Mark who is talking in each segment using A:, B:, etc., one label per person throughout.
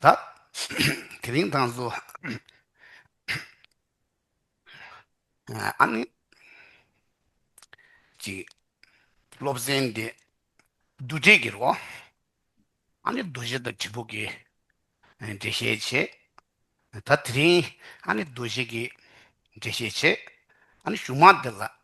A: བདག། དེ་རིང་དང་སུ། ཨ་ནི། ཅིག། སློབ་ཚན་འདི། བསྡུ་སྒྲིག་གི་རོ། ཨ་ནི་རྡོ་གཞི་དང་གྲི་ཕུག་གི། འགྲེལ་བཤད་བྱེད། ད་དེ་རིང། ཨ་ནི་རྡོ་གཞི་གི། འགྲེལ་བཤད་བྱེད། ཨ་ནི་གཞུང་མང་འདི་ལ།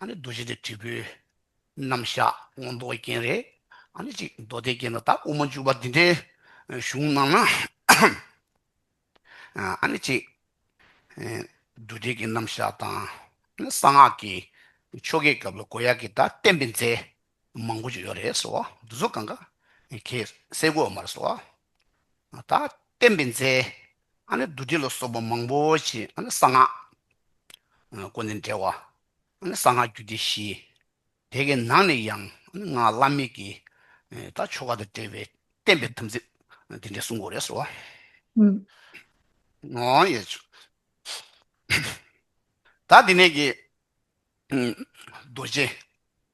A: ཨ་ནི་རྡོ་རྗེ་འདི་དྲིལ་བུའི་རྣམ་གཞག་སྔོན་མདོག་རྒྱན་རེ་ཨ་ནི་གཅིག་མདོ་སྡེ་རྒྱན་དུ་དག་དབུ་མ་འཇུག་པ་འདི་འདྲའི་གཞུང་རྣམས་ན་ཨ་ནི་གཅིག། རྡོ་དྲིལ་གྱི་རྣམ་གཞག་དང་ཨ་ནི་གསང་སྔགས་ཀྱི་ཆོ་གའི་སྐབས་ལ་མགོ་ཡར་གྱི་བརྡ་བསྟན་པའི་རྫས། མང་པོ་ཞིག་ཡོད་རེད་སོ། འདི་ཚོ་གང་གཱ་གའི་སའི་གོ་མར་སོ། ད་བསྟན་པའི་མཛད་ཨ་ནི་བདུད་སྡེ་ལ་སོགས་པ་མང་པོ་ཞིག་ཨ་ནི་གསང་སྔགས་ཀུན་ནས་འབྲེལ་བ་ཨ་ནི་གསང་སྔགས་རྒྱུད་སྡེ་བཞི། དེ་གའི་ནང་ནས་ཡང་ཨ་ནི་སྔགས་བླ་མེད་ཀྱི་ད་ཆོ་ག་དང་འབྲེལ་བའི་བསྟན་པའི་དམ་ཚིག་འདི་འདྲའི་གསུང་གོ་རེད་སོ། ད་འདི་ནས་ཀྱི་རྡོ་རྗེ་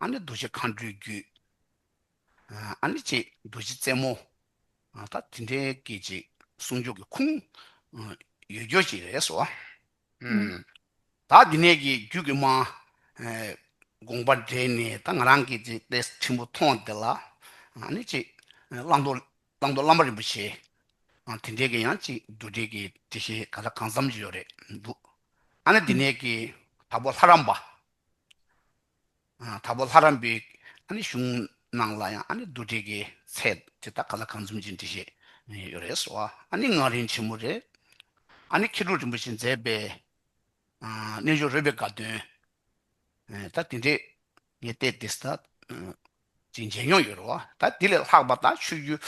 A: ཨ་ནི་རྡོ་རྗེ་མཁའ་འགྲོའི་རྒྱུད། ཨ་ནི་ཅེས་རྡོ་རྗེ་རྩེ་མོ། ད་དེ་འདྲའི་སྐད་ཅིག་གསུང་ཆོག་གི་ཁུངས། ཡོད་རྒྱུ་ཅི་རེད་ཟེར་བ།
B: ད་
A: དེ་ནས་ཀྱི་རྒྱུད་ཀྱི་མ། དགོངས་པ་འགྲེལ་ནས་ད་ང་རང་གིས་ཅིག་དཔེ་ཆེན་པོ་མཐོང་དེ་ལ། ཨ་ནི་ཅེས་བླང་དོར་བླ་མ་རིན་པོ་ཆེ། དེ་འདྲའི་ཀྱི་ཡང་ཅིག་རྡོ་རྗེ་ཀྱི་དེ་བཞིན་ག་ལ་གང་འཚམས་ཡོད་རེད་འདུག། ཨ་ནི་དེ་ནས་ཀྱི་
B: དྭགས་པོ་
A: ལྷ་རམས་པ། དྭགས་པོ་ལྷ་རམས་པའི་གཞུང་ནང་ལ་ཡང་རྡོ་དྲིལ་གྱི་ཚད་དེ་དག་ག་ལ་གང་འཛོམས་ཀྱིས་འབྲི་བཞེད་ཡོད་རེད་ཟེར་བ་ངག་རིང་ཆེན་མོ་རེད། མཁས་གྲུབ་རིན་པོ་ཆེས་མཛད་པའི་རྣལ་འབྱོར་རོལ་པའི་དགའ་སྟོན་ད་དེ་འདྲས་ངས་བལྟས་དེ་ལྟ་ཅིག་མཇལ་མྱོང་ཡོད་རེད་བ། ད་དེ་ལས་ལྷག་པ་དང་ཆོས་བརྒྱུད་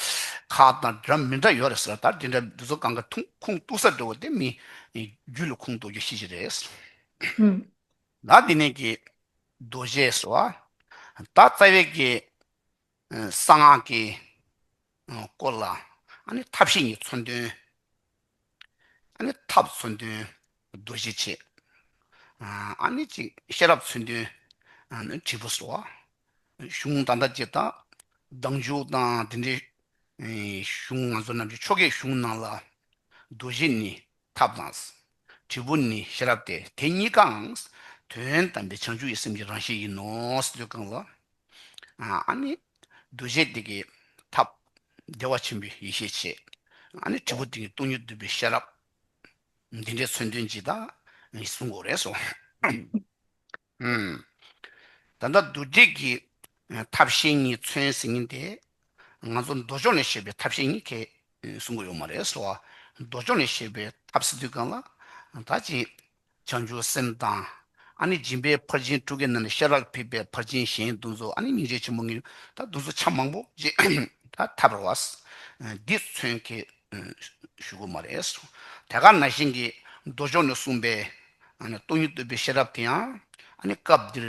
A: ཁག་དང་འདྲ་མི་འདྲ་ཡོད་རེད་ཟེར་བ་ལྟར་དེ་འདྲ་འདི་ཚོ་གང་གི་ཐུགས་ཁུངས་གཏུགས་ས་འདྲ་བོ་དེ་མིན། རྒྱུད་ལ་ཁུངས་གཏུགས་རྒྱུ་ཤེས་ཀྱི་རེད།
B: ད་དེ་ནས་
A: ཀྱི་རྡོ་རྗེ་ཟེར་བ་ད་རྩ་བའི་ཀྱི་གསང་སྔགས་ཀྱི་སྐོར་ལ་ཨ་ནི་ཐབས་ཤེས་གཉིས་མཚོན་དོན། ཨ་ནི་ཐབས་མཚོན་དོན། རྡོ་རྗེ་ཆེ། ཨ་ནི་ཅིག། ཤེས་རབ་མཚོན་དོན། ཨ་ནི་དྲིལ་བུ་སོགས། གཞུང་དང་འདྲ་ཅེས་དང། བདག་འཇུག་དང་འདི་འདྲའི། གཞུང་ང་ཚོ་རྣམས་ཀྱི་ཆོ་གའི་གཞུང་ནང་ལ། རྡོ་རྗེ་ནི་ཐབས་དང། དྲིལ་བུ་ནི་ཤེས་རབ་སྟེ་དེ་གཉིས་ཀའང། དོན་དམ་པའི་བྱང་ཆུབ་ཡིད་སེམས་ཀྱི་རང་བཞིན་ཡིན་ནོ། ལུས་གང་ལ། ཨ་ནི། རྡོ་རྗེ་དེ་ཀའི་ཐབས། བདེ་བ་ཆེན་པོའི་ཡེ་ཤེས་ཆེ། ཨ་ནི་དྲིལ་བུ་དེ་ནི་སྟོང་ཉིད་འདུས་པའི་ཤེས་རབ། འདི་འདྲའི་མཚོན་དོན་ཇི་ལྟར་མི་གསུང་གོ་རེ་སོ། ད་ལྟ་རྡུལ་བྲལ་གྱི་ཐབས་ཤེས་གཉིས་མཚོན་ཟིན་ངེས་ཏེ། ང་ཚོ་མདོ་ཕྱོགས་ནས་བཤད་པའི་ཐབས་ཤེས་གཉིས་ཁས་གསུང་གི་ཡོད་མ་རེད་སོ། མདོ་ཕྱོགས་ནས་བཤད་པའི་ཐབས་སི་ཏུ་གང་ལ་ད་ཅིང་བྱང་ཆུབ་སེམས་དང། ཨ་ནི་སྦྱིན་པའི་ཕར་ཕྱིན་དྲུག་གི་རྣམས་ནི་ཤ་རགས་ཕིགས་པའི་ཕར་ཕྱིན་གཞན་གདུང་ཚོགས་ཨ་ནི་སྙིང་རྗེ་ཆེན་པོ་ངེས་ད་གདུང་ཚོགས་ཆ་མང་པོ་ཅེས་ད་ཐབས་རོ་བ། འདིས་མཚོན་གྱི་ཞུ་གུ་མ་རེད། ཐད་ཀར་ན་གཞན་གྱི་མདོ་ཕྱོགས་ནས་གསུངས་པའི་ཨ་ནི་སྟོང་ཉིད་བསྟོད་པའི་ཤ་རབས་དེ་ཡང་ཨ་ནི་སྐབས་འདིར་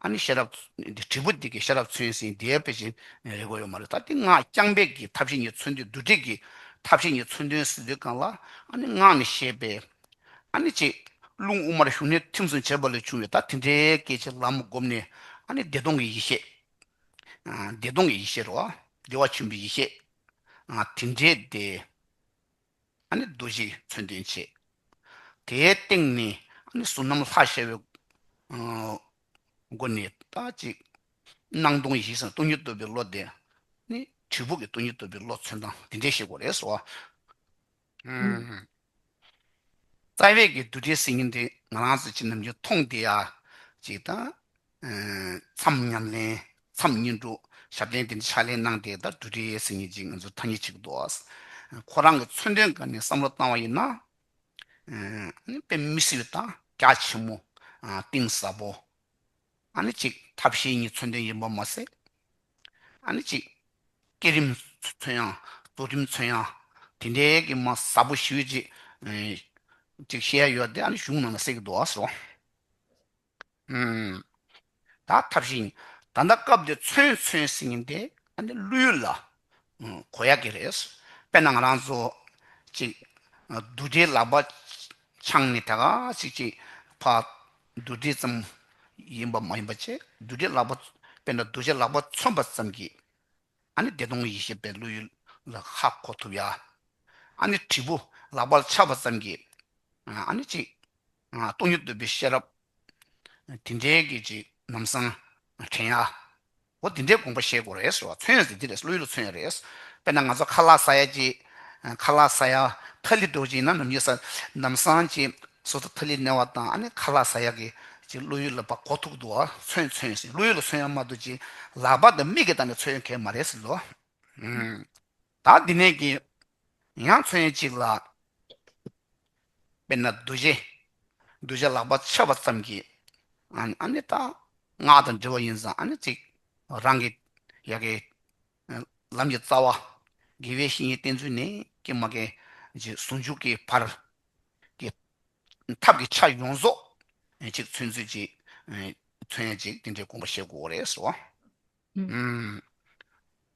A: ཨ་ནི་ཤ་རབས་འདི་དྲིལ་བུ་འདི་གའི་ཤ་རབས་མཚོན་ཟིན་བདེ་བའི་ཕྱིར་རེད་དགོས་ཡོད་མ་རེད་ད་འདི་སྔགས་རྐྱང་པས་ཀྱི་ཐབས་ཤེས་ཉིད་མཚོན་དུས་བསྡུ་སྒྲིག་གི་ཐབས་ཤེས་ཉིད་མཚོན་དོན་ཟིན་དུས་གང་ལ་ཨ་ནི་སྔགས་ནི་ཞེས་པའི་ཨ་ནི་ཅེས་རླུང་དབུ་མར་ཞུགས་ནས་ཐིམ་གསུམ་བྱེད་པ་ལས་བྱུང་བའི་ད་དེ་འདྲའི་སྐད་ཅིག་ལམ་བསྒོམས་ནས་ཨ་ནི་བདེ་སྟོང་གི་ཡེ་ཤེས། བདེ་སྟོང་གི་ཡེ་ཤེས་རོ། བདེ་བ་ཆེན་པོའི་ཡེ་ཤེས། དེ་འདྲའི་བདེ། ཨ་ནི་རྡོ་རྗེ་མཚོན་དོན་བྱས། དེའི་སྟེང་ནས་ཨ་ནི་གཟུགས་རྣམ་ལྷར་ཤར་བའི་སྒོ་ནས་ད་ཅིག་སྣང་སྟོང་ཡེ་ཤེས་སམ་སྟོང་ཉིད་རྟོགས་པའི་བློ་དེ་ནི་དྲིལ་བུ་གི་སྟོང་ཉིད་རྟོགས་པའི་བློ་མཚོན་སྟངས་དེ་འདྲའི་ཤེས་སྒོ་རེད་སོ། རྩ་བའི་གི་འདུ་འབྲལ་སེལ་གྱིན་དེ་ང་རང་ཚོ་ཅི་ནམ་རྒྱུན་མཐོང་དེ་ཡ། ཅིག་དང། མཚམས་མཉམ་ལེན། མཚམས་གཉིས་འགྲོ། ཞབས་ལེན་དེ་འདྲའི་ཕྱག་ལེན་གནང་དེ་ད་འདུ་འབྲལ་སེལ་གྱིན་ཅིག་ང་ཚོ་ཐ་སྙད་ཅིག་འདུག་ཨོ། ཁོ་རང་གི་མཚོན་དོན་འགའ་ནས་བསམ་བློ་བཏང་བ་ཡིན་ན། དཔེ་མི་སྲིད་པའི་དང་རྒྱ་ཆེན་མོ། གཏིང་ཟབ་པོ། ཨ་ནི་ཅིག་ཐབས་ཤེས་གཉིས་མཚོན་དོན་ཡིན་པ་མ་ཟད། ཨ་ནི་གཅིག། སྐྱེད་རིམ་ཚོན་ཡང། རྫོགས་རིམ་ཚོན་ཡང། དེ་འདྲའི་གི་མ་ཟབ་པོ་ཞིག་ཅིག། ཅིག་བཤད་ཡ་ཡོད་དེ་ཨ་ནི་གཞུང་ནང་ལ་གསལ་གི་འདུག་ཨ་སོ། ད་ཐབས་ཤིང། ད་ལྟ་སྐབས་འདིར་ཚོན་ཚོན་ཟིན་ངེས་ཏེ་ཨ་ནི་ཀླུའི་ལ་གོ་ཡག་གི་རེད། དཔེར་ན་ང་རང་ཚོ། ཅིག། བདུད་སྡེའི་ལག་པ། འཆང་ནས་ད་ག་ཚིག་ཅིག། ཕ། བདུད་སྡེ་ཙམ། ཡིན་པ་མ་ཡིན་པ་ཆེ། བདུད་སྡེའི་ལག་པ། དཔེར་ན་རྡོ་རྗེའི་ལག་པ་མཚོན་པ་ཙམ་གྱིས། ཨ་ནི་བདེ་སྟོང་ཡེ་ཤེས་པའི་བློ་ཡུལ་ལ་ཧ་གོ་ཐུབ་ཡ། ཨ་ནི་དྲིལ་བུ་ལག་པར་འཆགས་པ་ཙམ་གྱིས། ཨ་ནི་ཅིག། སྟོང་ཉིད་འདོད་པའི་ཤེས་རབ། དེ་འདྲའི་སྐད་ཅིག་ནམ་བཟང། དྲན་ཡ། འོ་དེ་འདྲའི་དགོངས་པ་ཤེས་དགོས་རེད་ཟེར་བ་མཚོན་ཡོད་ཟེར་འདི་རེད་བློ་ཡུལ་ལ་མཚོན་ཡོད་རེད། དཔེར་ན་ང་ཚོ་ཁ་ལག་ས་ཡ་ཅེས། ཁ་ལག་ས་ཡ། ཐ་ལི་རྡོ་རྗེ་ན་ནམ་ཉེ་ས། ནམ་བཟང་ཅེས། སོ་སོ་ཐ་ལི་གནས་བ་དང་ཨ་ནི་ཁ་ལག་ས་ཡ་གི། ཅེས་བློ་ཡུལ་ལ་བག་གོ་ཐུག་འདུག་བ་མཚོན་མཚོན་ཟེར་བློ་ཡུལ་ལ་མཚོན་ཡ་མ་འདུག་ཅེས་ལག་པ་དང་མིག་གིས་བལྟ་ནས་མཚོན་ཡོད་མཁན་མ་རེད་ཟེར་ལོ། བདག་འདི་ནས་ཀྱི་ཡང་མཚོན་ཅིག་ལ། དཔེར་ན་རྡོ་རྗེ། རྡོ་རྗེ་ལག་པ་ཕྱེ་བ་ཙམ་གྱིས། ཨ་ནི་ད་སྔགས་དང་འབྲེལ་བ་ཡིན་ཙང་ཨ་ནི་ཅིག་རང་གི་ཡ་གི། ལམ་གྱི་རྩ་བ། དགེ་བའི་བཤེས་གཉེན་བསྟེན་ཚུལ་ནི་ཀྱེ་མ་ཀྱེ། རྗེས་ཟུང་འཇུག་གི་བར། གྱི། ཐབས་ཀྱི་ཆ་ཡོངས་རྫོགས། ཅིག་མཚོན་ཚུལ་ཅིག། མཚོན་ཡང་ཅིག་དེ་འདྲའི་དགོངས་པ་བཞེད་དགོས་རེད་ཟེར་བ།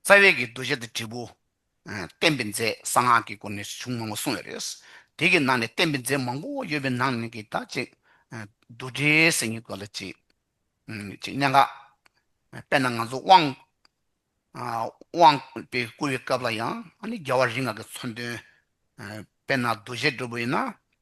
A: རྩ་བའི་གི་འདུ་བྱེད་དང་འབྲས་བུ། བསྟན་པའི་རྫས་གསང་སྔགས་ཀྱི་སྐོར་ནས་གཞུང་མང་པོ་གསུངས་ཡོད་རེད། དེ་གི་ནང་ནས་བསྟན་པའི་རྫས་མང་པོ་ཡོད་པའི་ནང་ནས་གི་དག་ཅིག། རྡུལ་བྲལ་སེམས་ཉིད་དགོས་ལ་གཅིག། ཅིག་གནད་འགག། དཔེར་ན་ང་ཚོ་དབང། དབང། པས་བསྐུར་བའི་སྐབས་ལ་ཡང་ཨ་ནི་རྒྱལ་བ་རིགས་ལྔ་གི་མཚོན་དོན། དཔེར་ན་འདུ་བྱེད་འགྲུབ་པ་ཡིན་ན་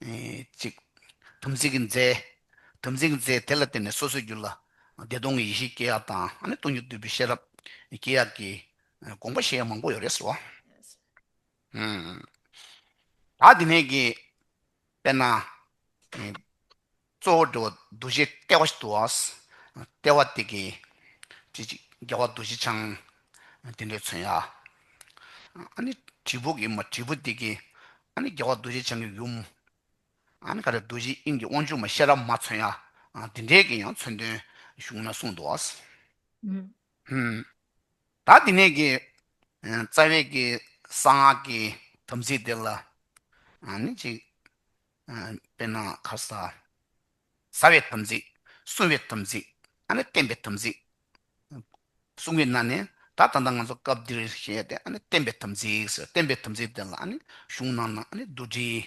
A: གཅིག། དམ་ཚིག་གི་རྫས། དམ་ཚིག་གི་རྫས་དེ་ལ་བརྟེན་ནས་སོ་སོའི་རྒྱུད་ལ། བདེ་སྟོང་གི་ཡེ་ཤེས་སྐྱེ་ཡག་དང་ནི་སྟོང་ཉིད་བསྡུས་པའི་ཤེས་རབ། སྐྱེ་ཡག་གི། དགོངས་པ་བཤད་ཡ་མང་པོ་ཡོད་རེད་ཟེར་བ། ད་དེ་ནས་ཀྱི། དཔེར་ན། གཙོ་བོར་འདྲི་བ་འདུ་བྱེད་ལྟེ་བ་དུ་བ། ལྟེ་བ་སྟེ་གེ། ཅི་ཅིག་རྒྱལ་བ་འདུ་བྱེད་འཆང། དེ་འདྲའི་མཚོན་ཡ། ཨ་ནི་དྲིལ་བུ་གེ་མ་དྲིལ་བུ་སྟེ་གེ། ཨ་ནི་རྒྱལ་བ་འདུ་བྱེད་འཆང་གི་ཡུམ། ཨ་ནི་ཀ་ར་འདུ་བྱེད་དབྱིངས་ཀྱི་དབང་ཕྱུག་མ་ཤེས་རབ་མ་མཚོན་ཡ། དེ་འདྲའི་གེ་ཡང་མཚོན་དོན་གཞུང་ན་གསུངས་དུ་བ། ད་དེ་ནས་གེ། རྩ་བའི་གེ། གསང་སྔགས་ཀྱི་དམ་ཚིག་དེ་ལ། ཨ་ནི་ཅིག། དཔེར་ན་ཁ་ཟ། ཟ་བའི་དམ་ཚིག། བསྲུང་བའི་དམ་ཚིག། ཨ་ནི་བསྟན་པའི་དམ་ཚིག། བསྲུང་བའི་ན་ནི་ད་ད་ལྟ་ང་ཚོ་སྐབས་འདིར་བཤད་དེ་ཨ་ནི་བསྟན་པའི་དམ་ཚིག་ཟེར་བསྟན་པའི་དམ་ཚིག་དེ་ལ་ཨ་ནི་གཞུང་ནང་ན་ཨ་ནི་བདུད་རྩི།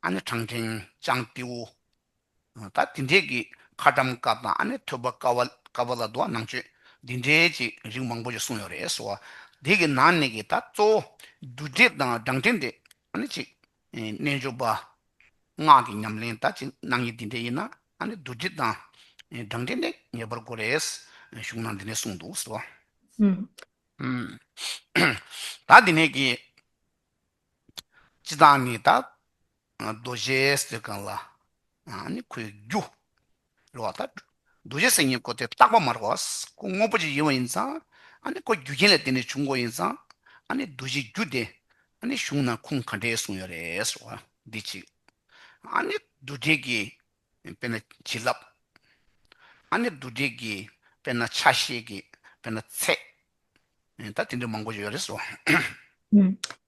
A: ཨ་ནི་བྲང་ཕྲེང་ཅང་ཏེའུ། ད་དེ་འདྲས་ཀྱི་ཁ་བཀྲམ་དཀའ་དང་ཨ་ནི་ཐོས་པ་དཀའ་བ་དཀའ་བ་ལ་དུ་བ་ནང་ཆོས་འདི་འདྲས་ཀྱི་རིགས་མང་པོ་ཞིག་གསུངས་ཡོད་རེད་སོ། དེ་གི་ནང་ནས་ཀྱི་ད་གཙོ་བོ་བདུད་རྩི་དང་བྲང་ཕྲེང་དེ་ཨ་ནི་གཅིག། རྣལ་འབྱོར་པ། སྔགས་ཀྱི་ཉམས་ལེན་ལྟ་ཅི་གནང་ཡིན་འདི་འདྲས་ཡིན་ན་ཨ་ནི་བདུད་རྩི་དང། སྦྲང་རྩི་ནི་ངེས་པར་དགོས་རེད། གཞུང་ནང་འདི་འདྲས་གསུངས་འདུག་ཟེར་བ། ད་འདི་ནས་ཀྱི། སྤྱི་དང་ནི་ད། རྡོ་རྗེའི་གསེར་ཁང་ལ། ཨ་ནི་ཁོའི་རྒྱུ། འགྲོ་བ་དང། འདུ་བྱེད་སེམས་གཉིས་ཀོ་དེ་རྟག་པ་མ་རེད་བ། ཀོ་དངོས་པོ་གཅིག་ཡིན་བ་ཡིན་ཙང། ཨ་ནི་ཀོ་རྒྱུ་རྐྱེན་ལས་དེ་ནས་བྱུང་ཀོ་ཡིན་ཙང། ཨ་ནི་འདུ་བྱེད་རྒྱུ་དེ། ཨ་ནི་གཞུང་ན་ཁུངས་ག་འདྲའི་གསུངས་ཡོད་རེད་ཟེར་བ་འདི་གཅིག། ཨ་ནི་འདུ་བྱེད་ཀྱིས་དཔེར་ན་བྱིན་རླབས། ཨ་ནི་འདུ་བྱེད་ཀྱིས་དཔེར་ན་ཆ་ཤས་ཀྱིས་དཔེར་ན་ཚད། ད་དེ་འདྲའི་མང་པོ་ཞིག་ཡོད་རེད་ཟེར་བ།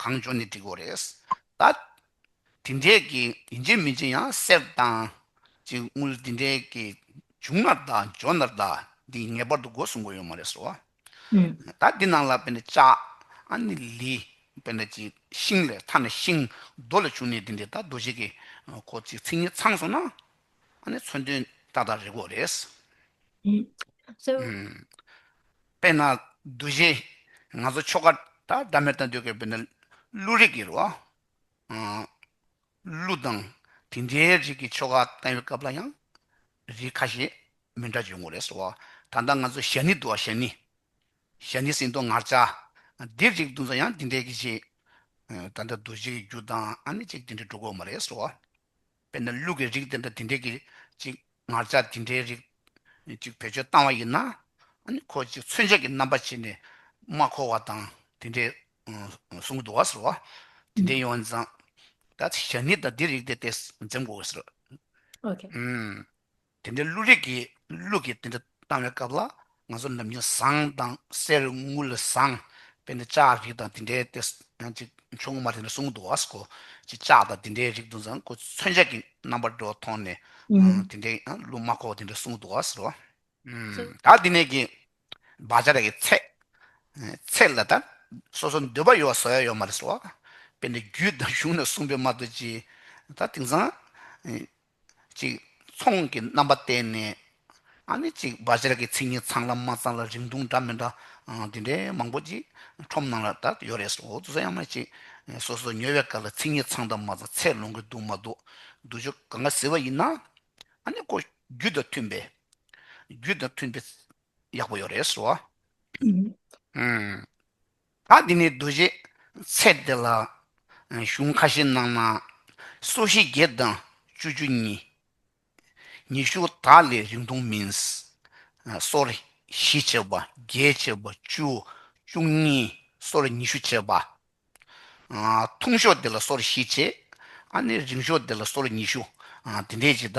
A: གང་བྱུང་ནི་འགྲིག་གོ་རེད་ད། དེ་འདྲས་ཀྱི་ཡིན་ཅིག་མིན་ཅིག་ཡང་གསལ་བཏང། ཅིག་དངུལ་དེ་འདྲས་ཀྱི་བྱུང་ན་ད་འཇོག་ན་ད་འདི་ངེས་པར་དུ་འགོ་སྲུང་དགོས་ཡོད་མ་རེད་ཟེར་བ། ད་འདི་ནང་ལ་དཔེར་ན་ལྕགས་ཨ་ནི་ལི་དཔེར་ན་ཅིག་ཤིང་ལས་ཐ་ན་ཤིང་རྡོ་ལས་བྱུང་ནས་དེ་འདྲས་ད་རྡོ་ཆས་ཀྱི་ཁོ་ཚིག་ཚིག་གཉིས་ཚང་སོང་ན་ཨ་ནི་མཚོན་དོན་ཏག་ཏག་རེད་གོ་རེད། དཔེར་ན། རྡོ་རྗེ། ང་ཚོ་ཆོ་ག་དང་སྒྲ་མེད་དང་འདོད་དགེ་བོད་ན་ཀླུ་རིགས་ཀྱི་རོ། ཀླུ་དང་དེ་འདྲའི་རིགས་ཀྱི་ཆོ་ག་བཏང་བའི་སྐབས་ལ་ཡང་རིགས་ཁ་ཤས་མི་འདྲ་བྱུང་ངོ་རེད་སོ། ད་ལྟ་ང་ཚོ་ཞྭ་ནི་འདུག་ཨ་ཞྭ་ནི། ཞྭ་ནི་སིང་སྟོང་ངར་ལྕགས། འདིར་རིགས་བསྡུ་ཚ་ཡང་འདི་འདྲས་ཀྱི་ཆེད། ད་ལྟ་རྡོ་རྗེ་ཀྱི་རྒྱུ་དང་ཨ་ནི་ཅིག་དེ་འདྲས་འགྲོ་དགོས་མ་རེད་སོ། དཔེར་ན་ལུག་གི་རིགས་དེ་འདྲ་དེ་འདྲས་ཀྱི་ཅིག་ངར་ལྕགས་དེ་འདྲའི་རིགས་ཅིག་བེད་སྤྱོད་བཏང་བ་ཡིན་ན། ཁོ་ཅིག་མཚོན་ཆ་གྱི་རྣམ་པ་བྱས་ནས་མ་འཁོར་བ་དང་དེ་འདྲའི་གསུང་གི་འདུག་བ་ཟེར་བ། དེ་འདྲའི་ཡོང་བ་འཛངས། ད་ཞག་ནི་དང་དེ་རིགས་དེ་དེ་འཛེམ་དགོས་བ་ཟེར། དེ་འདྲའི་ཀླུ་རིགས་ཀྱི་ཀླུ་གིས་དེ་འདྲ་བཏང་བའི་སྐབས་ལ་ང་ཚོ་ནམ་རྒྱུན་ཟངས་དང་གསེར་དངུལ་ལས་བཟང་བས་ནི་ལྕགས་རིགས་དང་དེ་འདྲའི་དེ་ཡང་ཅིག་ཆུང་ངུ་མ་དེ་འདྲ་གསུང་འདུག་ཨ་ཁོ་ཅིག་ལྕགས་དང་དེ་འདྲའི་རིགས་དུ་བཟང་ཁོ་ཚོས་མཚོན་ཆ་གྱི་རྣམ་པར་འགྲོ་བ་མཐོང་ནས་དེ་འདྲའི་ཀླུ་མ་ཁོ་བ་དེ་འདྲ་གསུང་འདུག་ཟེར་རོ། ད་
B: འདི་ནས་ཀྱི་
A: བ་ཅར་གྱི་ཚེ་ཚད་ལ་ད་སོ་སོ་འདོད་པ་ཡོད་བ་ཟོ་ཡ་ཡོད་མ་རེད་ཟེར་བ། དཔེར་ན་རྒྱུད་དང་གཞུང་ནས་གསུངས་པའི་མ་རྡོ་རྗེ་ད་དེང་སང་ཅིག། ཚོང་གི་རྣམ་པ་བསྟན་ནས། ཨ་ནི་ཅིག་བ་ཇར་གྱི་ཚིག་གཉིས་ཚང་ལ་མ་ཚང་ལ་རིང་ཐུང་འདྲ་མི་འདྲ་དེ་འདྲའི་མང་པོ་ཅིག་ཁྲོམ་ནང་ལ་དར་ཡོད་རེད་སོ་ཨོ་ཙི་ས་ཡ་མ་ཅིག་སོ་སོ་ཉོས་བའི་སྐབས་ལ་ཚིག་གཉིས་ཚང་དང་མ་ཚང་ཚད་ལོང་གི་འདུག་མ་འདུག་འདུག་ཆོ་ག་འགའ་ཟེར་བ་ཡིན་ན། ཨ་ནི་ཀོ་རྒྱུད་དང་མཐུན་པའི། རྒྱུད་དང་མཐུན་པའི། ཡག་པོ་ཡོད་རེད་སོ། ཨུ། ད་འདི་ནས་རྡོ་རྗེ་ཚེ་འདི་ལ། གཞུང་ཁ་ཤས་སྣང་ན་སོ་ཞེ་བརྒྱད་དང་བཅུ་བཅུ་གཉིས། ཉི་ཤུ་དག་ལས་རིང་ཐུང་མིན། སོར་བཞི་བྱེ་བ་བརྒྱད་བྱེ་བ་བཅུ་བཅུ་གཉིས་སོར་ཉི་ཤུ་བྱེད་པ། ཐུང་ཤོས་འདི་ལ་སོར་བཞི་བྱེད། རིང་ཤོས་འདི་ལ་སོར་ཉི་ཤུ། འདི་འདྲས་ཀྱི་ད་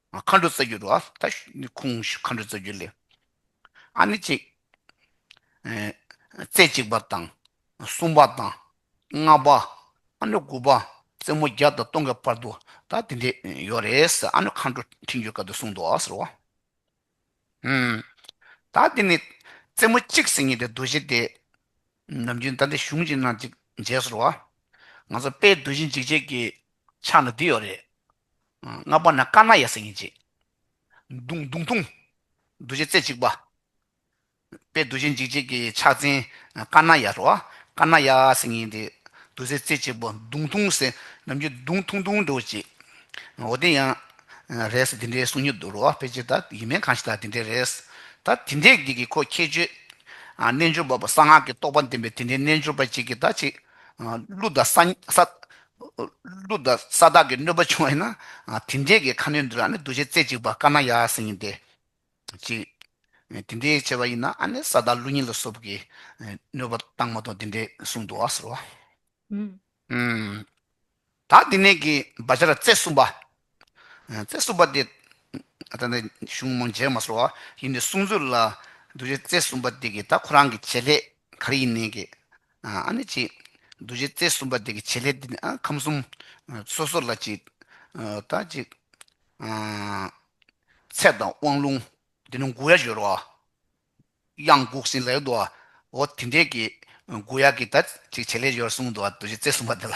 A: མཁའ་འགྲོ་རྩ་རྒྱུད་དོ། ད་ནི་ཁུངས་བཞི་མཁའ་འགྲོའི་རྩ་རྒྱུད་ལས། ཨ་ནི་གཅིག། རྩེ་གཅིག་པ་དང། གསུམ་པ་དང། ལྔ་པ། ཨ་ནི་དགུ་པ། རྩེ་མོ་བརྒྱ་དང་སྟོང་གི་བར་དུ་ད་དེ་འདྲས་ཡོད་རེད། ཨ་ནི་མཁའ་འགྲོ་ཕྲིན་བཅོལ་སྐབས་དུ་གསུངས་ཏོ་ཟེར་བ། ད་དེ་ནི་རྩེ་མོ་གཅིག་སེམས་ཉིད་དེ་རྡོ་རྗེ་སྟེ། ནམ་རྒྱུན་ད་འདི་གཞུང་གཅིག་ན་གཅིག་མཇལ་ཟེར་བ། ང་ཚོ་དཔལ་རྡོ་རྗེ་འཇིགས་བྱེད་ཀྱི་ཕྱག་ན་འདི་ཡོད་རེད། ལྔ་པ་ན་དཀར་ནག་ཡ་སེ་ངེ་འབྱེད། མདུང་མདུང་ཐུང། འདུ་བྱེད་རྩེ་གཅིག་པ། པའི་འདུ་བྱེད་འཇིགས་བྱེད་ཀྱི་ཕྱག་མཚན་དཀར་ནག་ཡ་རོ། དཀར་ནག་ཡ་སེ་ངེ་འབྱེད། འདུ་བྱེད་རྩེ་གཅིག་པ་མདུང་ཐུང་སེ། ནམ་རྒྱུན་མདུང་ཐུང་ཐུང་འདྲེ་བོ་བྱེད། འོ་དེ་ཡང། རེད་སེ་དེ་འདྲའི་གསུང་ཉུལ་འདུག་རོ། དཔེ་ཆའི་ད་ཡིན་མིན་གང་ཞིག་ད་དེ་འདྲའི་རེད་སེ། ད་དེ་འདྲའི་གི་གི་ཁོ་ཁྱད་ཆོས། རྣལ་འབྱོར་པ་པོ་གསང་སྔགས་ཀྱི་རྟོགས་པ་ལྡན་པའི་དེ་འདྲའི་རྣལ་འབྱོར་པ་གཅིག་གིས་ད་ཅིག། གླུ་ད་ས། ཀླུ་དང་ས་བདག་གི་གནོད་པ་བྱུང་བས་ན་དེ་འདྲའི་གི་ཁ་གནོད་འདི་ལ་ནི་གདུལ་བྱའི་རྩེ་གཅིག་པ་དཀར་ནག་ཡ་གསེང་ཡིན་ཏེ། གཅིག། དེ་འདྲའི་བྱེད་པ་ཡིན་ན་ནི་ས་བདག་ཀླུ་གཉིས་ལ་སོབ་ཀྱི་གནོད་པ་བཏང་མ་ཐོག་འདི་འདྲའི་གསུང་དུ་བ་ཟེར་རོ། དག་འདི་ནས་གི་བ་བྱ་ར་རྩེ་གསུམ་པ། རྩེ་གསུམ་པ་སྟེ། གཞུང་མང་རྗེས་མ་སོགས་བ་ཡིན་ཏེ་གསུངས་ཚུལ་ལ། གདུལ་བྱའི་རྩེ་གསུམ་པ་དེ་གིས་ད་ཁོ་རང་གི་བྱེད་ལས་གར་ཡིན་ནན་གི། ཨ་ནི་ཅིག། གདུལ་བྱའི་རྩེ་གསུམ་པ་དེ་གི་བྱེད་ལས་དེ་ནི་ཨ་ཁམས་གསུམ། སོ་སོ་ལ་ཅིག། ད་ཅིག། ཚད་དང་དབང་ལུང། དེ་ནི་མགུ་ཡ་སྦྱོར་བ། དབྱངས་འགུགས་ཟིན་ལེགས་འདུག་ཨོ། དེ་འདྲའི་གི། མགུ་ཡ་གི་ད་ཅིག་བྱེད་ལས་སྦྱོར་གསུངས་འདུག་གདུལ་བྱའི་རྩེ་གསུམ་པ་དེ་ལ།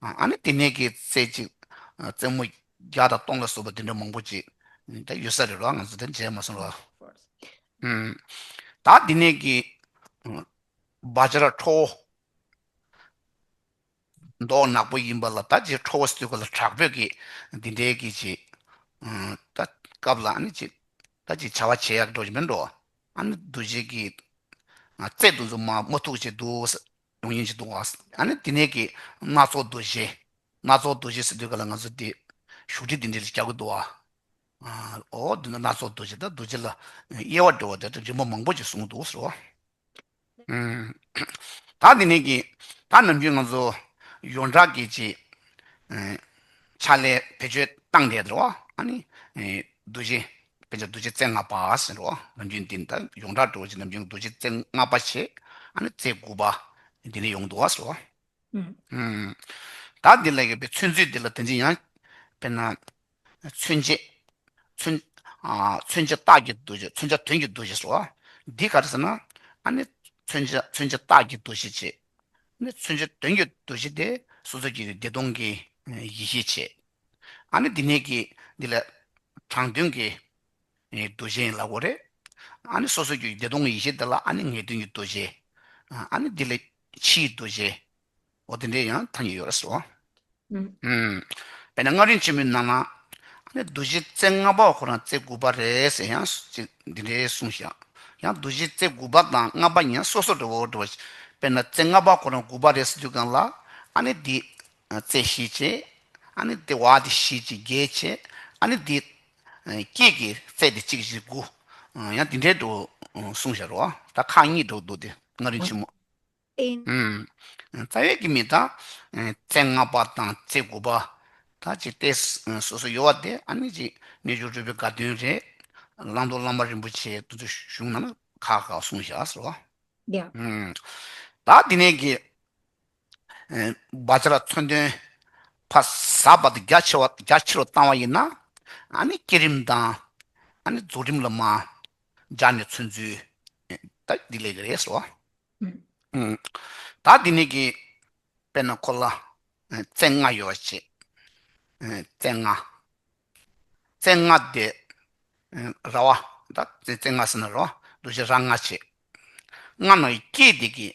A: ཨ་ནི་དེ་ནས་ཀྱི་རྩེ་གཅིག་རྩེ་མོ་བརྒྱ་དང་སྟོང་ལ་སོགས་པ་དེ་འདྲ་མང་པོ་ཅིག་དེ་ཡོད་ས་རེད་རོ་ང་ཚོ་དེ་མཇལ་མ་སོང་རོ། ད་དེ་ནས་ཀྱི་བ་ཇ་ར་ཁྲོ་བོ་མདོག་ནག་པོ་ཡིན་པ་ལ་ད་ཇི་ཁྲོ་བོ་སྟོད་གོ་ལ་དྲག་པོས་ཀྱི་འདི་འདྲའི་ཀྱི་ཅི་ད་སྐབས་ལ་ཨ་ནི་ཅི་ད་ཅི་བྱ་བ་བྱེད་ཡག་འགྲོ་ཅི་མི་འགྲོ་ཨ་ནི་འདུ་བྱེད་ཀྱི་རྩེ་དུ་འཛུགས་མ་མོ་ཐུགས་རྗེ་འདུག་ས་ཡོང་ཡིན་ཅིག་འདུག་ཨ། ཨ་ནི་དེ་ནས་ཀྱི་སྣ་ཚོགས་འདུ་བྱེད། སྣ་ཚོགས་འདུ་བྱེད་ཟེར་དུས་ག་ལ་ང་ཚོ་དེ། བཞུགས་ཁྲི་འདི་འདྲའི་རྒྱག་གི་འདུག་ཨ། ཨོ་འདི་ནི་སྣ་ཚོགས་འདུ་བྱེད་ད་འདུ་བྱེད་ལ། དབྱེ་བ་འགྲོ་བ་དེ་རིན་པོ་མང་པོ་ཅིག་གསུངས་གི་འདུག་ཟེར་བ། ད་དེ་ནས་ཀྱི། ད་ནམ་རྒྱུན་ང་ཚོ། ཡོངས་གྲགས་ཀྱི་ཅི། ཕྱག་ལས་བེད་སྤྱོད་བཏང་སྟེ་ཟེར་བ། ཨ་ནི། འདུ་བྱེད་དཔེ་ཆ་རྡོ་རྗེ་རྩེ་ལྔ་པ་ཟེར་རོ། ནམ་རྒྱུན་འདི་ནི་ཡོངས་གྲགས་འགྲོ་བ་ཆེ་ནམ་རྒྱུན་རྡོ་རྗེ་རྩེ་ལྔ་པ་ཆེ། ཨ་ནི་རྩེ་དགུ་པ། འདི་ནི་ཡོངས་འདུ་བ་སོ། བདག་འདི་ལ་ཡོད་པའི་མཚོན་ཚུལ་འདི་ལ་དོན་ཅི་ཡང། དཔེར་ན། མཚོན་བྱེད། མཚོན་བྱེད་རྟགས་ཀྱི་འདུ་བྱེད་མཚོན་བྱ་དོན་གྱི་འདུ་བྱེད་སོགས། འདི་ག་རེ་ཟེར་ན། ཨ་ནི། མཚོན་བྱེད་རྟགས་ཀྱི་འདུ་བྱེད་ཆེ། ཨ་ནི་མཚོན་བྱེད་དོན་གྱི་འདུ་བྱེད་དེ། སོ་སོ་སྐྱེ་བའི་བདེ་སྟོང་གི་ཡེ་ཤེས་ཆེ། ཨ་ནི་འདི་ནས་ཀྱི། འདི་ལ། དྲང་དོན་གྱི། རྡོ་རྗེ་ཡིན་ལ་བོ་རེད། ཨ་ནི་སོ་སོ་སྐྱོ་ཡི་བདེ་སྟོང་གི་ཡེ་ཤེས་འདི་ལ་ཨ་ནི་ངེས་དོན་གྱི་རྡོ་རྗེ། ཨ་ནི་འདི་ལ། ཕྱི་ཡི་རྡོ་རྗེ། འོ་དེ་འདྲའི་ཡང་ཐ་སྙད་ཡོད་རེད་སོ། དཔེར་
B: ན་
A: སྔགས་རིང་ཆེན་མོའི་ནང་ན། ཨ་ནི་རྡོ་རྗེ་རྩེ་ལྔ་པའོ་ཁོ་རང་རྩེ་དགུ་པ་རེད་ཟེར་ཡང། འདི་འདྲའི་གསུང་བཞག། ཡང་རྡོ་རྗེ་རྩེ་དགུ་པ་དང་ལྔ་པ་གཉིས་ཡང་སོ་སོར་རེད་བོ། དཔེར་ན་རྩེ་ལྔ་པ་ཁོ་རང་དགུ་པ་རེད་ཟེར་དུས་གང་ལ། ཨ་ནི་འདི། རྩེ་ཤེས་བྱེད། ཨ་ནི་དེ་བ་དེ་ཤེས་ཀྱི་རྒྱས་བྱེད། ཨ་ནི་དེ། སྐྱེས་ཀྱི་རྩེ་དེ་གཅིག་བཞི་དགུ། ཡང་དེ་འདྲའི་དུ། གསུང་བཤད་རོ། ད་ཁག་གཉིས་སྒྲོག་འདུག་སྟེ་ལྔ་རིང་ཆེན་མོ། རྩ་
B: བའི་
A: ཀྱི་མི་དང། རྩེ་ལྔ་པ་དང་རྩེ་དགུ་པ། ད་ཅིག་སྟེ། སོ་སོའི་ཡོལ་བ་དེ་ཨ་ནི་ཅིག་རྣལ་འབྱོར་སྤྲུལ་པའི་དགའ་སྟོན་རེ། བླང་དོར་བླ་མ་རིན་པོ་ཆེའི་བསྟོད་ཚུལ་གཞུང་རྣམས་ཁག་ཁག་གསུང་བཤད་རོ།
B: ད་
A: དེ་ནས་ཀྱི། སྦ་བྱ་ལ་མཚོན་དོན། ཕ་བཟའ་བར་དུ་རྒྱ་ཆེ་རུ་བཏང་བ་ཡིན་ན། བསྐྱེད་རིམ་དང། རྫོགས་རིམ་ལ་མ་སྦྱར་ནས་མཚོན་ཚུལ་འདི་ལས་རེད་ཟེར་བ། ད་འདི་ནས་ཀྱི་དཔེར་ན་ཁོ་ལ་རྩེ་ལྔ་ཡོད་བ་བྱེད། རྩེ་ལྔ། རྩེ་ལྔ་དེ་ར་བ། རྩེ་ལྔ་ཟེར་ན་ར་བ། འདུ་བྱེད་ར་ལྔ་བྱེད། ལྔ་ནང་གི་སྐྱེས་དེ་ཀྱི།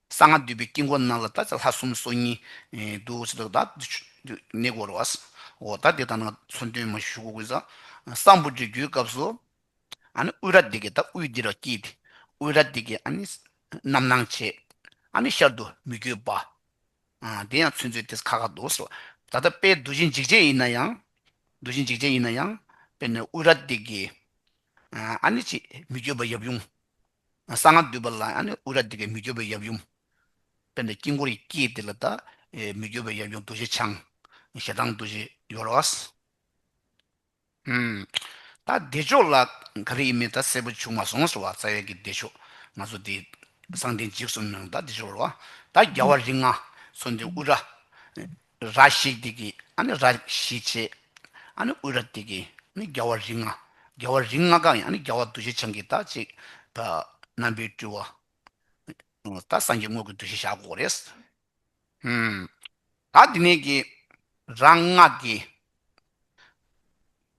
A: གསང་སྔགས་འདུས་པའི་དཀྱིལ་འཁོར་རྣམས་ལ་བདག་ཅག་ལྷ་གསུམ་སྲོག་སྙིང། དུ་བྱིན་བདག་བདག་གི་ནི་བསྐོར་བ། འོ་བདག་དེ་ལྟར་ན་མཚོན་དོན་མ་བཞུགས་གོ་ས་གསང་ཕུ་དྲི་རྒྱུའི་སྐབས་སུ། དབུས་ར་དེ་ཀས་བདག་དབུས་འདི་རུ་བསྐྱིལ་ཏེ་དབུས་ར་དེ་ཀས་རྣམ་སྣང་བྱས། ཤར་དུ་མི་བསྐྱོད་པ། དེ་ཡང་མཚོན་ཚུལ་དེས་ཁ་ཁ་འདུག་ཟེར་བ། ད་ལྟ་དཔལ་རྡོ་རྗེ་འཇིགས་བྱེད་ཡིན་ན་ཡང། རྡོ་རྗེ་འཇིགས་བྱེད་ཡིན་ན་ཡང། དཔེར་ན་དབུས་ར་དེ་ཀས། ཅེས་མི་བསྐྱོད་པ་ཡབ་ཡུམ། གསང་སྔགས་འདུས་པ་ལ་ཡང་ནི་དབུས་རྭ་དེ་ཀའི་མི་བསྐྱོད་པའི་ཡབ་ཡུམ། དཔལ་ནི་དཀྱིལ་འཁོར་གྱི་དཀྱིལ་དེ་ལ་བལྟ། མི་བསྐྱོད་པའི་ཡབ་ཡུམ་རྡོ་རྗེ་འཆང། ཞལ་གདངས་རྡོ་རྗེ་ཡོལ་བ། ད་བདེ་མཆོག་ལ་ག་རེ་ཡིན་མིན་ད་གསལ་པོ་བྱུང་མ་སོང་ཟེར་བ་རྩ་བའི་གི་བདེ་མཆོག་ང་ཚོ་དེ་གསང་ལྡན་འཇིགས་གསུམ་ནང་ད་བདེ་མཆོག་ལ་བལྟ། བརྒྱ་བ་རིགས་ལྔ་ཚོ་འདི་དབུས་རྭ། ར་ཤིག་དེ་གི་ཨ་ནི་ར་ཤིག་ཆེ། ཨ་ནི་དབུས་ར་དེ་གི་ཨ་ནི་རྒྱ་བ་རིགས་ལྔ། རྒྱ་བ་རིགས་ལྔ་གང་ཡིན་ཨ་ནི་རྒྱ་བ་གདུལ་བྱའི་བྱང་གི་དག་ཅིག། རྣམ་པའི་སྤྲུལ་བ། ད་སངས་རྒྱས་དངོས་ཀྱི་གདུལ་བྱའི་ཞག་གོ་རེ། ད་འདི་ནས་ཀྱི་ར་ལྔ་གི།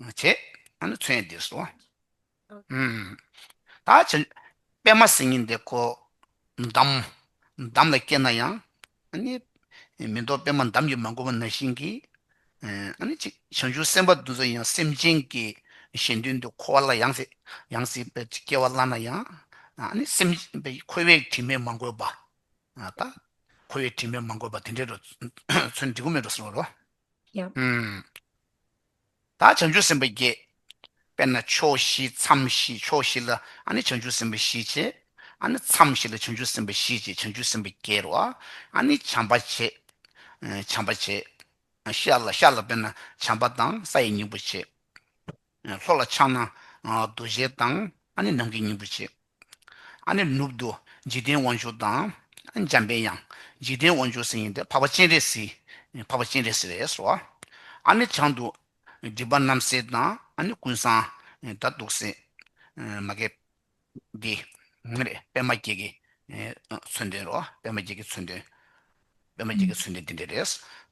A: བྱེད། ཨ་ནི་མཚོན་འདི་སོ། ད་བྱེད། པད་མ་སེང་གེ་འདི་ཁོ། འདམ། འདམ་ལ་སྐྱེས་ན་ཡང། ཨ་ནི། མི་འདོར་པད་མ་འདམ་གྱིས་མ་གོས་པ་ན་བཞིན་གྱི། ཨ་ནི་གཅིག། བྱང་ཆུབ་སེམས་དཔའ་འདུ་འཛི་ཡང་སེམས་ཅན་གྱི། གཞན་དོན་དུ་འཁོར་བ་ལ་ཡང། ཡང་སྲིད་པའི་སྐྱེ་བ་བླངས་ན་ཡང། ཨ་ནི་སེམས། འཁོར་བའི་དྲི་མས་མ་གོས་པ། ད། འཁོར་བའི་དྲི་མས་མ་གོས་པ་དེ་འདྲའི་རོ། ཚོན་འདི་ཀུན་མེད་དུ་གསོལ། ཡང། བདག་བྱང་ཆུབ་སེམས་དཔའ་བརྒྱད། དཔེར་ན་ཕྱོགས་བཞི་མཚམས་བཞི་ཕྱོགས་བཞི་ལ་ཨ་ནི་བྱང་ཆུབ་སེམས་དཔའ་བཞི་བྱེད། ཨ་ནི་མཚམས་བཞི་ལ་བྱང་ཆུབ་སེམས་དཔའ་བཞི་བྱེད་བྱང་ཆུབ་སེམས་དཔའ་བརྒྱད་རོ། ཨ་ནི་བྱམས་པ་བྱེད། བྱམས་པ་བྱེད། ཤར་ལ་ཤར་ལ་དཔེར་ན་བྱམས་པ་དང་ས་ཡི་སྙིང་པོ་བྱེད། ལྷོ་ལ་ཕྱག་ན་རྡོ་རྗེ་དང་ཨ་ནི་ནམ་མཁའི་སྙིང་པོ་བྱེད། ཨ་ནི་ནུབ་ཏུ་འཇིག་རྟེན་དབང་ཕྱུག་དང། འཇམ་དཔལ་ཡང་འཇིག་རྟེན་དབང་ཕྱུག་ཟེར་ཡིན་ཏེ་འཕགས་པ་སྤྱན་རས་གཟིགས་འཕགས་པ་སྤྱན་རས་གཟིགས་ལས་སོ། ཨ་ནི་བྱང་དུ་སྒྲིབ་པ་རྣམ་སེལ་དང་ཨ་ནི་ཀུན་བཟང་དག་གདུག་སེལ། མ་སྐད་འདི། པདྨ་བརྒྱད་ཀྱི་མཚོན་དོན་རོ། པདྨ་བརྒྱད་ཀྱི་མཚོན་དོན། པདྨ་བརྒྱད་ཀྱི་མཚོན་དོན་དེ་འདྲ་རེད།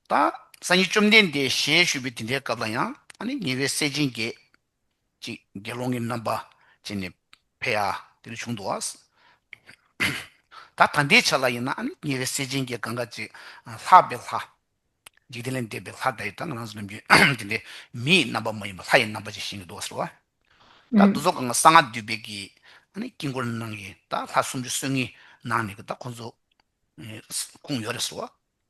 A: ད། ས་ཉིད་བཅོམ་ལྡན་འདས་ཞེས་ཞུས་པའི་དེ་འདྲའི་སྐབས་ལ་ཡང་ཨ་ནི་ཉེ་བའི་སྲས་སྤྱན་རྒྱས། ཅིག། དགེ་སློང་གི་རྣམ་པ་ཅན་ནི་བྷེ་ཨ། དེ་ལས་བྱུང་དུ་བསད། ད་ལྟའི་ཆ་ལ་ཡིན་ན་ནི་ཉེ་བའི་སྲས་ཆེན་གྱི་གང་གཱ་ཅི། ལྷག་པའི་ལྷ། འཇིག་རྟེན་ལས་འདས་པའི་ལྷ་དག་ཡོད་དམ་ང་རང་ཚོ་ནམ་རྒྱུན་དེ་འདྲའི་མི་ཡི་རྣམ་པ་མ་ཡིན་པར་ལྷ་ཡི་རྣམ་པ་ཅན་བཞེངས་ཀྱི་འདུག་ཟེར་བ། ད་འདུ་ཚོགས་ཁང་གི་གསང་སྔགས་འདུས་པའི་གི། དཀྱིལ་འཁོར་ནང་གི་ད་ལྷ་སུམ་ཅུ་སོ་གཉིས་ནང་ནས་ཀྱི་ད་ཁོང་ཚོ། ཁུངས་ཡོད་རེད་ཟེར་བ།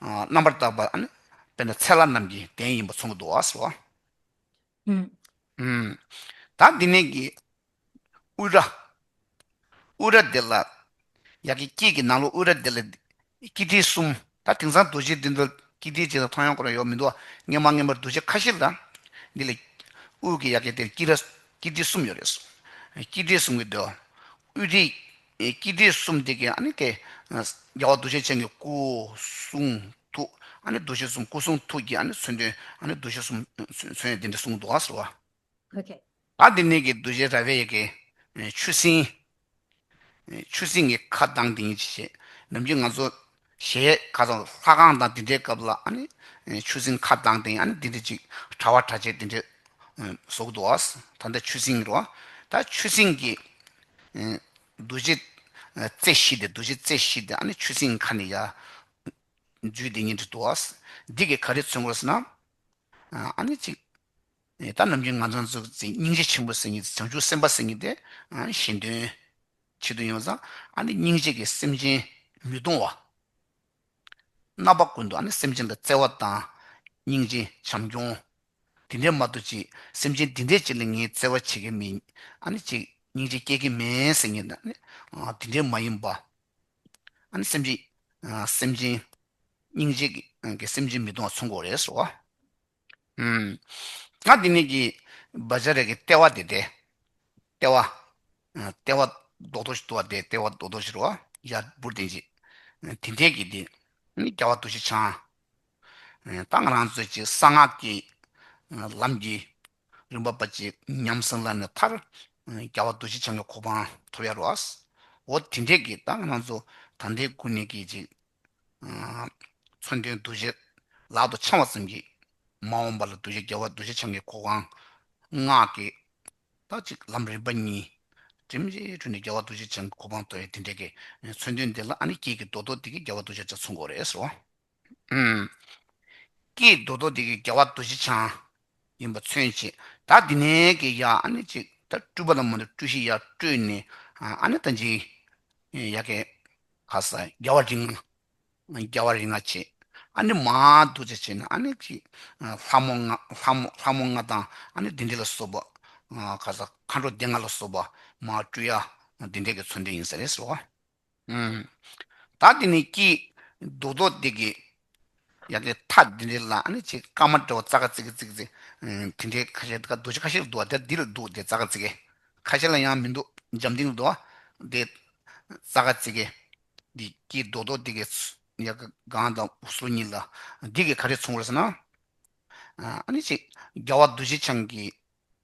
A: རྣམ་པར་བརྟགས་པ་ནི་དཔེར་ན་ཚལ་ལ་རྣམས་ཀྱི་གདན་ཡིན་པ་མཚུངས་པ་དུའོ་ཟེར་བ། ད་འདི་ནས་ཀྱི་དབུས་རྭ། དབུས་རྭ་འདི་ལ་ཡ་གི་དཀྱིལ་གྱི་ནང་ལོགས་དབུས་རྭ་འདི་ལ་དཀྱིལ་ཐིག་གསུམ། ད་དེང་སང་རྡོ་རྗེ་འདི་ཚོ་དཀྱིལ་ཐིག་ཅིག་དང་མཐོང་ཡང་ཁོ་ན་ཡོད་མི་འདུག་སྔས་མ་སྔས་མར་རྡོ་རྗེ་ཁ་བཞི་ལ་འདི་ལ་དབུས་ཀྱི་ཡ་གི་དེར་དཀྱིལ་རྭ་དཀྱིལ་ཐིག་གསུམ་ཡོད་རེད། དཀྱིལ་ཐིག་གསུམ་གྱི་འདོད་དབུས་ཐིག་ཀྱི་དྲི་གསུམ་དེ་ཀའི་ནི་དེ། རྒྱལ་བ་འདུ་ཤེས་ཅན་གྱི་སྐུ་གསུང་ཐུགས། འདུ་ཤེས་གསུམ་སྐུ་གསུང་ཐུགས་ཀྱི་མཚོན་དོན། འདུ་ཤེས་གསུམ་མཚོན་ཡོད་འདི་འདྲ་གསུངས་འདུག་ཟེར་བ།
B: ལ་དེ་ནས་ཀྱི་འདུ་
A: བྱེད་ར་བའི་ཡི་གེ། ཆུ་སྲིན། ཆུ་སྲིན་གྱི་ཁ་གདངས་དེ་ཉིད་ཅེས་བྱའི། ནམ་རྒྱུན་ང་ཚོ་ཞེས་ག་ཚོད་ལྷ་ཁང་དང་འདི་འདྲའི་སྐབས་ལ་ཆུ་སྲིན་ཁ་གདངས་སྟེང་འདི་འདྲ་ཅིག་གྲྭ་བ་གྲྭ་ཆས་འདི་འདྲའི་ཟོག་འདུག་ད་ལྟ་ཆུ་སྲིན་རོ་ད་ཆུ་སྲིན་གྱི་འདུ་བྱེད་རྩེ་བཞི་དེ་འདུ་བྱེད་རྩེ་བཞི་དེ་ཆུ་སྲིན་ཁ་ནས་ཡ་འཇུས་དེ་ཉིད་འདུག་འདི་གིས་ག་རེ་མཚོན་དགོས་ཟེར་ན་ཅིག། ད་ནམ་གྱི་ང་ཚང་ཚོ་སྙིང་རྗེ་ཆེན་པོ་སེང་གེ་བྱང་ཆུབ་སེམས་དཔའ་སེང་གེ་དེ་གཞན་དོན་ཆེད་དུ་ཡོང་ཙང་ཨ་ནི་སྙིང་རྗེ་གི་སེམས་ཅན་མི་གཏོང་བ། རྣམ་པ་ཀུན་ཏུ་ཨ་ནི་སེམས་ཅན་ལ་བརྩེ་བ་དང་སྙིང་རྗེ་བྱམས་སྐྱོང། དེ་འདྲའི་མ་ཏོ་ཅིག་སེམས་ཅན་འདི་འདྲའི་ཅིག་ལ་ངས་བརྩེ་བ་བྱེད་ཀྱི་མིན་ཨ་ནི་ཅིག་སྙིང་རྗེ་སྐྱེ་གི་མེད་སེང་གེ་ནི་དེ་འདྲའི་མ་ཡིན་པ། ཨ་ནི་སེམས་ཅན་སྙིང་རྗེ་གི་སེམས་ཅན་མི་གཏོང་བ་ཚུར་འགོག་རེད་ཟེར་བ། ང་འདི་ནས་ཀྱིས། བ་ཇ་རས་ཀྱི་ལྟེ་བ་དེ་སྟེ། ལྟེ་བ། ལྟེ་བ། རྡོག་རྡོག་ཞིག་འདུག་བ་དེ་ལྟེ་བ་རྡོག་རྡོག་ཞིག་རོ། ཡར་འབུར་དེ་ཅིག། དེ་འདྲས་ཀྱིས་དེ། ནི་རྒྱལ་བ་འདུ་ཤེས་འཆང། ད་ང་རང་ཚོས་ཀྱིས་གསང་སྔགས་ཀྱི། ལམ་གྱི། རིམ་པ་པ་ཅིག་ཉམས་སུ་བླངས་ནས་མཐར། རྒྱལ་བ་འདུ་ཤེས་འཆང་གི་གོ་འཕང་ཐོབ་ཡ་རོ། འོ་དེ་འདྲས་ཀྱིས་ད་ང་རང་ཚོ། ད་ལྟའི་དགུན་ནས་ཀྱིས་ཅིག། མཚོན་དོན་གདུལ་བྱའི་ལག་ཏུ་འཆང་བ་ཙམ་གྱིས་མ་འོངས་པ་ལ་གདུལ་བྱ་རྒྱལ་བ་གདུལ་བྱ་འཆང་གི་གོ་འང་སྔགས་ཀྱི། དག་ཅིག་ལམ་རིམ་པ་གཉིས། དྲི་མ་ཅན་འཁྲུལ་ནས་རྒྱལ་བ་གདུལ་བྱ་འཆང་གི་གོ་འང་དོར་བས་དེ་འདྲའི་གི། མཚོན་དོན་འདི་ལ་ཨ་ནི་ཀྱེ་ཀྱེ་རྡོ་རྡོ་འདི་གིས་རྒྱལ་བ་གདུལ་བྱ་ཆ་མཚོན་གོ་རེ་ཟེར་བ། ཀྱེ་རྡོ་རྡོ་འདི་གིས་རྒྱལ་བ་གདུལ་བྱ་འཆང། ཡིན་པ་མཚོན་བྱེད་ད་འདི་ནས་ཀྱི་ཡ་ཨ་ནི་ཅིག་ད་སྤྲུལ་པ་ལ་མ་ཏྲོ་སྤྲུལ་ཤི་ཡ་སྤྲོས་ནས་ཨ་ནི་ད་འཇིག་ཡ་ཀེ་ཁ་ས་རྒྱ་བ་རིང་རྒྱ་བ་རིང་ང་བྱེད་ཨ་ནི་མ་འདུ་བྱ་བྱེད་ན་ཨ་ནི་ཅིག་ལྷ་མོ་ང་ལྷ་མོ་ང་དང་ཨ་ནི་འདི་འདྲེ་ལ་སོབ་ཁ་ས་མཁའ་འགྲོ་སྡེ་ལྔ་ལ་སོབ་པ་མ་སྤྲུལ་ཡ་འདི་འདྲེ་ཀྱི་ཚོ་འདྲེ་ཡིན་ས་རེད་ཟེར་བ། བདག་འདི་ནི་སྐྱིད་སྡུག་ཐོག་བདེ་གི། ཡང་དེ་ཐ་དེ་འདྲའི་ལ་ནི་ཅིག་སྐར་མ་འདྲ་བ་ཙག་ཙིག་ཙིག་ཙིག་དེ་འདྲའི་ཁ་ཤས་འདུག་ཁ་ཤས་འདུག་དེ་འདི་ལ་འདུག་དེ་ཙག་ཙིག་ཁ་ཤས་ལ་ཡང་མི་འདུག་འཇམ་ཐིང་དུ་འདུག་དེ་ཙག་ཙིག་འདི་སྐྱིད་སྡུག་ཐོག་བདེ་གི། ཡང་གང་དང་སུ་ཉིད་ལ་འདི་གི་ཁ་ཤས་མཚུངས་བར་ཟེར་ན། ཨ་ནི་ཅིག་རྒྱལ་བ་རྡོ་རྗེ་འཆང་གི།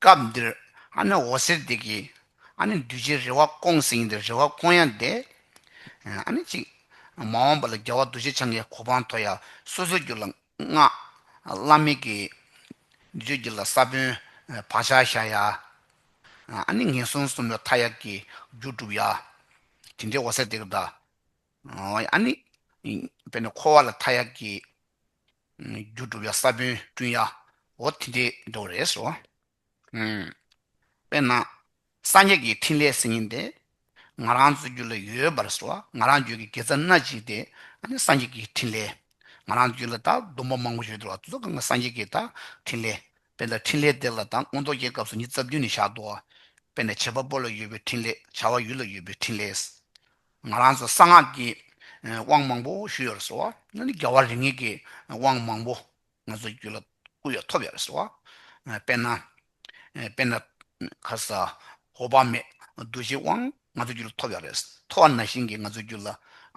B: སྐབས་
A: འདིར་ཨ་ན་འོ་ཟེར་དེ་གིས་ཨ་ནི་འདུལ་བྱའི་རེ་བ་སྐོང་ཟིན་ཏེ་རེ་བ་སྐོང་ཡ་འདས། ཨ་ནི་གཅིག། མ་འོངས་པ་ལ་རྒྱལ་བ་འདུལ་བྱེད་འཆང་གི་གོ་འཕང་མཐོ་ཡང་སོ་སོའི་རྒྱུད་ལ་སྔགས། བླ་མེད་ཀྱི། འདུལ་བྱའི་རྒྱུད་ལ་ས་བོན། བག་ཆགས་བཞག་ཡ། ཨ་ནི་ངན་སོང་གསུམ་ལ་མཐའ་ཡས་ཀྱི་རྒྱུ་བསྒྲུབ་ཡ། དེ་འདྲའི་འོ་ཟེར་དེ་གིས་བདག། ཨ་ནི། དཔེར་ན་འཁོར་བ་ལ་མཐའ་ཡས་ཀྱི། རྒྱུ་སྒྲུབ་ཡ་ས་བོན་བསྐྲུན་ཡ་འོ་དེ་འདྲའི་མདོ་རེད་སོ། དཔེར་ན། སངས་རྒྱས་ཀྱི་ཕྲིན་ལས་སེམས་ཉིད་འདི། ང་རང་ཚོའི་རྒྱུད་ལ་ཡོད་པར་སོ། ང་རང་རྒྱུད་ཀྱི་དགེ་རྩ་སྣ་གཅིག་སྟེ། སངས་རྒྱས་ཀྱི་ཕྲིན་ལས། ང་རང་རྒྱུད་ལ་དང་སྡོམ་པ་མང་པོ་ཡོད་དོ། དེ་ཚོ་གང་གི་སངས་རྒྱས་ཀྱི་དང་ཕྲིན་ལས། དཔེར་ན་ཕྲིན་ལས་དེ་ལ་དང་མངོན་རྟོགས་རྒྱས་སྐབས་སུ་ཉིད་རྩ་བདུན་ནི་བཞག་དོ། དཔེར་ན་བྱེད་པ་པོ་ལ་ཡོད་པའི་ཕྲིན་ལས་བྱ་བ་ཡུལ་ལ་ཡོད་པའི་ཕྲིན་ལས། ང་རང་ཚོ་གསང་སྔགས་ཀྱི་དབང་མང་པོ་ཞུས་ཡོད་རེད་ཟེར་བ་ནི་རྒྱལ་བ་རིགས་ངེས་ཀྱི་དབང་མང་པོ་ང་ཚོའི་རྒྱུད་ལ་བསྐུར་ཡོད་ཐོབ་ཡོད་རེད་ཟེར་བ། དཔེར་ན། དཔེར་ན། ཁ་ས། འོག་བག་མེད་རྡོ་རྗེའི་དབང་ང་ཚོའི་རྒྱུད་ལ་ཐོབ་ཡོད་རེད། ཐོ་བ་ན་བཞིན་གྱི་ང་ཚོའི་རྒྱུད་ལ་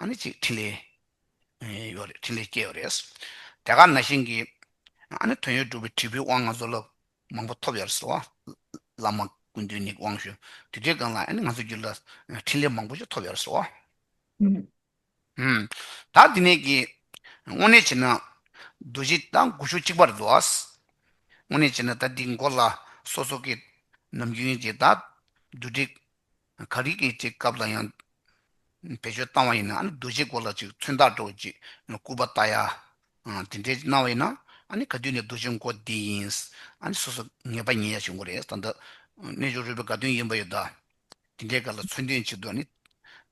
A: ནི་ཅིག་ཕྲིན་ལས་ཡོད་རེད་ཕྲིན་ལས་སྐྱེས་ཡོད་རེད། དེ་ག་ན་བཞིན་གྱི་ནི་དོན་ཡོད་གྲུབ་པའི་དྲིལ་བུའི་དབང་ང་ཚོ་ལ་མང་པོ་ཐོབ་ཡོད་རེད་ཟེར། བླ་མ་ཀུན་འདུས་ནི་དབང་ཞུ་དུས་དེའི་སྒང་ལ་ང་ཚོའི་རྒྱུད་ལ་འཕྲིན་ལས་མང་པོ་ཞིག་ཐོབ་ཡོད་རེད་ཟེར། ད་འདི་ནས་ཀྱི་དངོས་གནས་བྱས་ན་རྡོ་རྗེ་ད་དགུ་ཤུག་གཅིག་པ་རེད་འདུག། དངོས་གནས་བྱས་ན་ད་འདི་མགོ་ལ་སོ་སོ་ཀའི་ནམ་རྒྱུན་གྱི་ད་བསྡུ་སྒྲིག་ག་རིགས་ཀྱི་ཅིག་སྐབས་ལ་ཡང་བེད་སྤྱོད་བཏང་བ་ཡིན་ན་རྡོ་རྗེའི་སྒོ་ལ་ཅིག་མཚོན་རྟགས་སྤྲོ་བ་ཅིག་སྐུར་པ་བཏགས་ཡ། དེ་འདྲའི་གནང་བ་ཡིན་ན་ག་དུས་ནས་རྡོ་རྗེ་མགོ་བདེ་ཡིན། སོ་སོ་ངེས་པ་ཉན་ཡ་ཞིག་མགོ་རེད་ད་འདི་རྣལ་འབྱོར་རོལ་པའི་དགའ་སྟོན་ཡིན་པ་ཡོད་ད། དེ་འདྲའི་སྐབས་ལ་མཚོན་དོན་ཅིག་ཏུ་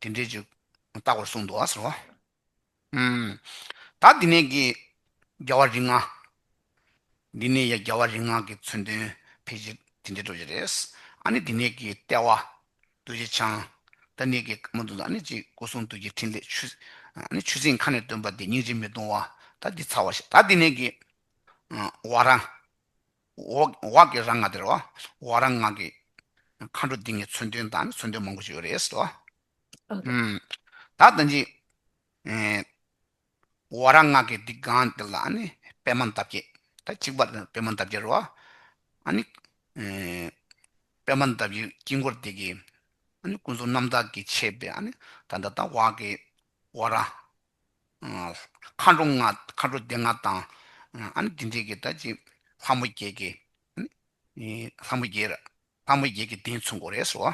A: དེ་འདྲའི་ཅིག་བཏགས་པར་གསུངས་འདུག་ཟེར་བ། དག་འདི་ནས་ཀྱི་རྒྱལ་བ་རིག་སྔགས། འདི་ནས་ཡ་རྒྱལ་བ་རིག་སྔགས་ཀྱི་མཚོན་དོན་ཕལ་ཆེར་དེ་འདྲའི་སྒྲོགས་བྱེད་རེད། ཨ་ནི་འདི་ནས་ཀྱི་ལྟེ་བ་རྡོ་རྗེ་འཆང། ད་ནས་ཀྱི་ཀརྨ་འདུ་འཛོ་ཨ་ནི་ཅིག་སྐུ་གསུང་ཐུགས་ཀྱི་ཕྲིན་ལས་ཆུ། ཨ་ནི་ཆུ་སྲིན་མཁའ་ནས་སྟོན་པ་འདི་སྙིང་རྗེ་མི་གདུང་བ་ད་འདི་ཚར་བ་ཞེས་དག་འདི་ནས་ཀྱི། བ་རང། བ་ཀྱི་རང་སྔགས་དེར་བ་རང་སྔགས་ཀྱི། མཁའ་འགྲོ་འདི་ངས་མཚོན་དོན་དང་མཚོན་དོན་མང་པོ་ཞིག་ཡོད་རེད།
B: ད་
A: ལྟ་ནི། བ་ར་སྔགས་ཀྱི་སྡིག་གང་འདི་ལ་ནི་པད་མ་འདབ་བརྒྱད། ད་གཅིག་པར་ནི་པད་མ་འདབ་བརྒྱད་རོ། ཨ་ནི། པད་མ་འདབ་བརྒྱད་དཀྱིལ་འཁོར་འདི་ཀྱི། ཨ་ནི་ཀུན་རྫོབ་རྣམ་དག་གི་ཆེ་བའི་ཨ་ནི་ད་ད་ད་བ་ཀྱི་བ་ར། མཁའ་འགྲོ་ལྔ་མཁའ་འགྲོ་སྡེ་ལྔ་དང། ཨ་ནི་འདི་འདི་ཀྱི་ད་ཅིག་ལྷ་མོ་བརྒྱད་ཀྱི། ཨ་ནི་ལྷ་མོ་བརྒྱད་ལྷ་མོ་བརྒྱད་ཀྱི་གདན་མཚུངས་སྒོ་རེ་སོ།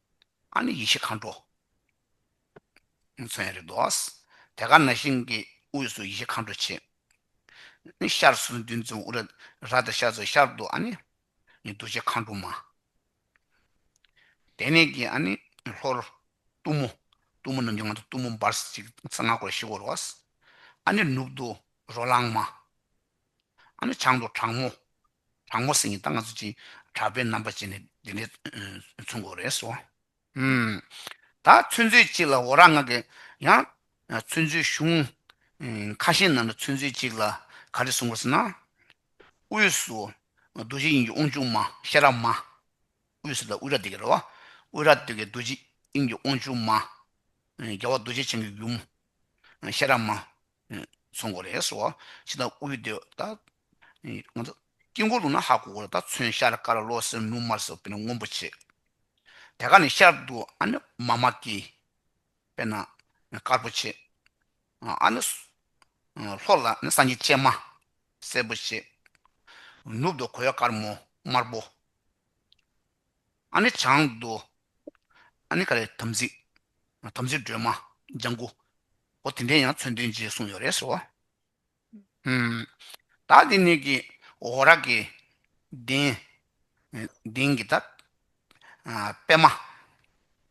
A: ཨ་ནི་ཡེ་ཤེས་མཁའ་འགྲོ། མཚོན་རེ་དོ། དེ་ཀ་ན་ཤིང་གི་དབུས་སུ་ཡེ་ཤེས་མཁའ་འགྲོ་ཆེ། ནི་ཤར་སུ་འདུལ་མཛོད་དབུ་ར་དེ་ཤར་སུ་ཤར་དུ་ཨ་ནི་ནི་འདུ་བྱེད་མཁའ་འགྲོ་མ། དེ་ནས་ཀྱི་ཨ་ནི་ལྷོར། གཏུམ་མོ། གཏུམ་མོ་རྣམས་ཀྱི་ནང་དུ་གཏུམ་མོ་འབར་གཅིག་ཚེ་སྔགས་འཁོར་བཞི་བསྐོར་རོ། ཨ་ནི་ནུབ་ཏུ་རོ་ལངས་མ། ཨ་ནི་བྱང་དུ་དྲག་མོ། དང་པོ་སེང་གེ་རྟ་ལྔ་ཚུད་ཅིང་གྲགས་པའི་རྣམ་པ་ཅན་ནི་འདི་འདྲའི་ཚོན་སྐོར་རེས་སོ། ད་ཚོན་ཚུལ་གཅིག་ལ་འོ་ར་ལྔ་གི། ཡང་ཚོན་ཚུལ་གཞུང། ཁ་ཞེང་རྣམས་ལ་ཚོན་ཚུལ་གཅིག་ལ་ག་རེ་གསུང་སྐོར་ཟེར་ན། དབུས་སུ་རྡོ་རྗེ་དབྱིངས་ཀྱི་དབང་ཕྱུག་མ་ཤེས་རབ་མ། དབུས་སུ་ལ་དབུས་ར་དེ་ཀ་ར་བ། དབུས་ར་སྟོད་ཀྱི་རྡོ་རྗེ་དབྱིངས་ཀྱི་དབང་ཕྱུག་མ། རྒྱལ་བ་རྡོ་རྗེ་འཆང་གི་ཡུམ། ཤེས་རབ་མ། ཚོན་གོ་རེ་སོ། ཕྱི་དང་དབུས་སྟོད་ད། དཀྱིལ་འཁོར་ལུགས་ན་ཧ་གོ་རེ་ད་ཚོན་ཤར་དཀར་བློ་སེར་ནུབ་དམར་སེར་པོ་ནི་སྔོན་པོ་ཆེ། དེ་ཀ་ནི་ཤར་དུ་ཨ་ནི་མཱ་མ་ཀཱི། དཔེར་ན། དཀར་པོ་ཆེ། ཨ་ནི། ལྷོ་ལ་ནི་སངས་རྒྱས་སྤྱན་མ། སེར་པོ་ཆེ། ནུབ་ཏུ་གོས་དཀར་མོ་དམར་པོ། ཨ་ནི་བྱང་རྡོ། ཨ་ནི་ཀ་རའི་དམ་ཚིག། དམ་ཚིག་སྒྲོལ་མ་ལྗང་གུ། འོ་དེ་འདྲའི་ཡང་མཚོན་དོན་རྗེས་གསུངས་ཡོད་རེད་ཟེར་བ། བདག་འདི་ནི་ཀྱི་འོ་ར་ཀི། གདན། གདན་གི་བདག། པདྨ།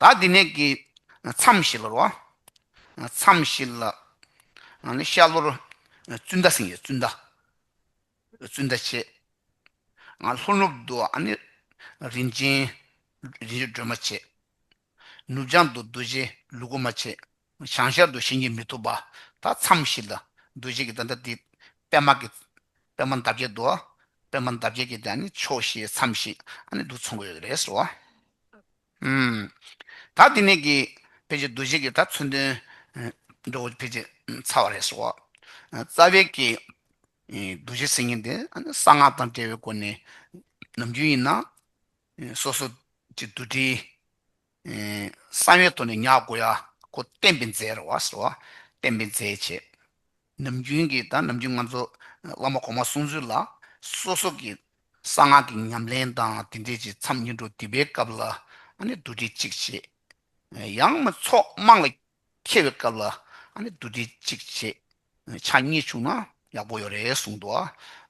B: བདག་
A: འདི་ནས་ཀྱི། མཚམས་བཞི་ལོར་བ། མཚམས་བཞི་ལ། ཤར་ལྷོར། བཙུན་ཟླ་སེང་གེ་བཙུན་ཟླ། བཙུན་ཟླ་ཕྱེད། ལྷོ་ནུབ་ཏུ། རིན་ཆེན་སྒྲོལ་མ་ཕྱེད། ནུབ་བྱང་དུ་རྡོ་རྗེ་ལུ་གུ་མ་ཕྱེད། བྱང་ཤར་དུ་བྱིན་གྱིས་མི་ཐུབ་པ་དག་མཚམས་བཞི་ལ་འདུ་བྱེད་ཀྱི་འདི་འདྲ་སྟེ། པདྨ་ཀྱི། པདྨ་འདབ་བརྒྱད་དུ། པདྨ་འདབ་བརྒྱད་ཀྱི་དེ་ནི་ཕྱོགས་བཞིའི་མཚམས་བཞི་ནི་དུ་མཚུངས་ཡོད་རེད་ཟེར་བ། ད་འདི་ནས་ཀྱི། ཕལ་ཆེར་འདུ་བྱེད་ཀྱི་ད་མཚོན་དོན། འགྲོ་བ་ཕལ་ཆེར་ཚ་བ་རེད་ཟེར་བ། རྩ་བའི་ཀྱི། འདུ་བྱེད་སེམས་ཉིད་དེ་གསང་སྔགས་དང་བྲལ་བའི་སྒོ་ནས། ནམ་རྒྱུན་ཡིན་ན། སོ་སོ། ཀྱི་འདུ་འབྲེལ། གསང་བའི་དོན་ནི་ཉག་དགོ་ཡ་ཁོ་བསྟན་པའི་མཛད་ར་བ་ཟེར་བ་བསྟན་པའི་མཛད་ཅེས། ནམ་རྒྱུན་གྱི་དང་ནམ་རྒྱུན་ང་ཚོ་བླ་མ་གོང་མ་གསུང་ཚུལ་ལ་སོ་སོ་གྱི་གསང་སྔགས་ཀྱི་ཉམས་ལེན་དང་དེ་འབྲེལ་གྱི་མཚམས་ཉིན་དྲུག་འདི་པའི་སྐབས་ལ་ནི་བསྡུ་སྒྲིག་ཅིག་བྱེད། ཡང་མི་ཚོགས་དམངས་ལ་ཁེལ་བའི་སྐབས་ལ་བདུད་སྡེ་གཅིག་བྱེད། ཕྱག་གཉིས་བྱུང་ན་ཡག་པོ་ཡོད་རེད་གསུངས་འདུག་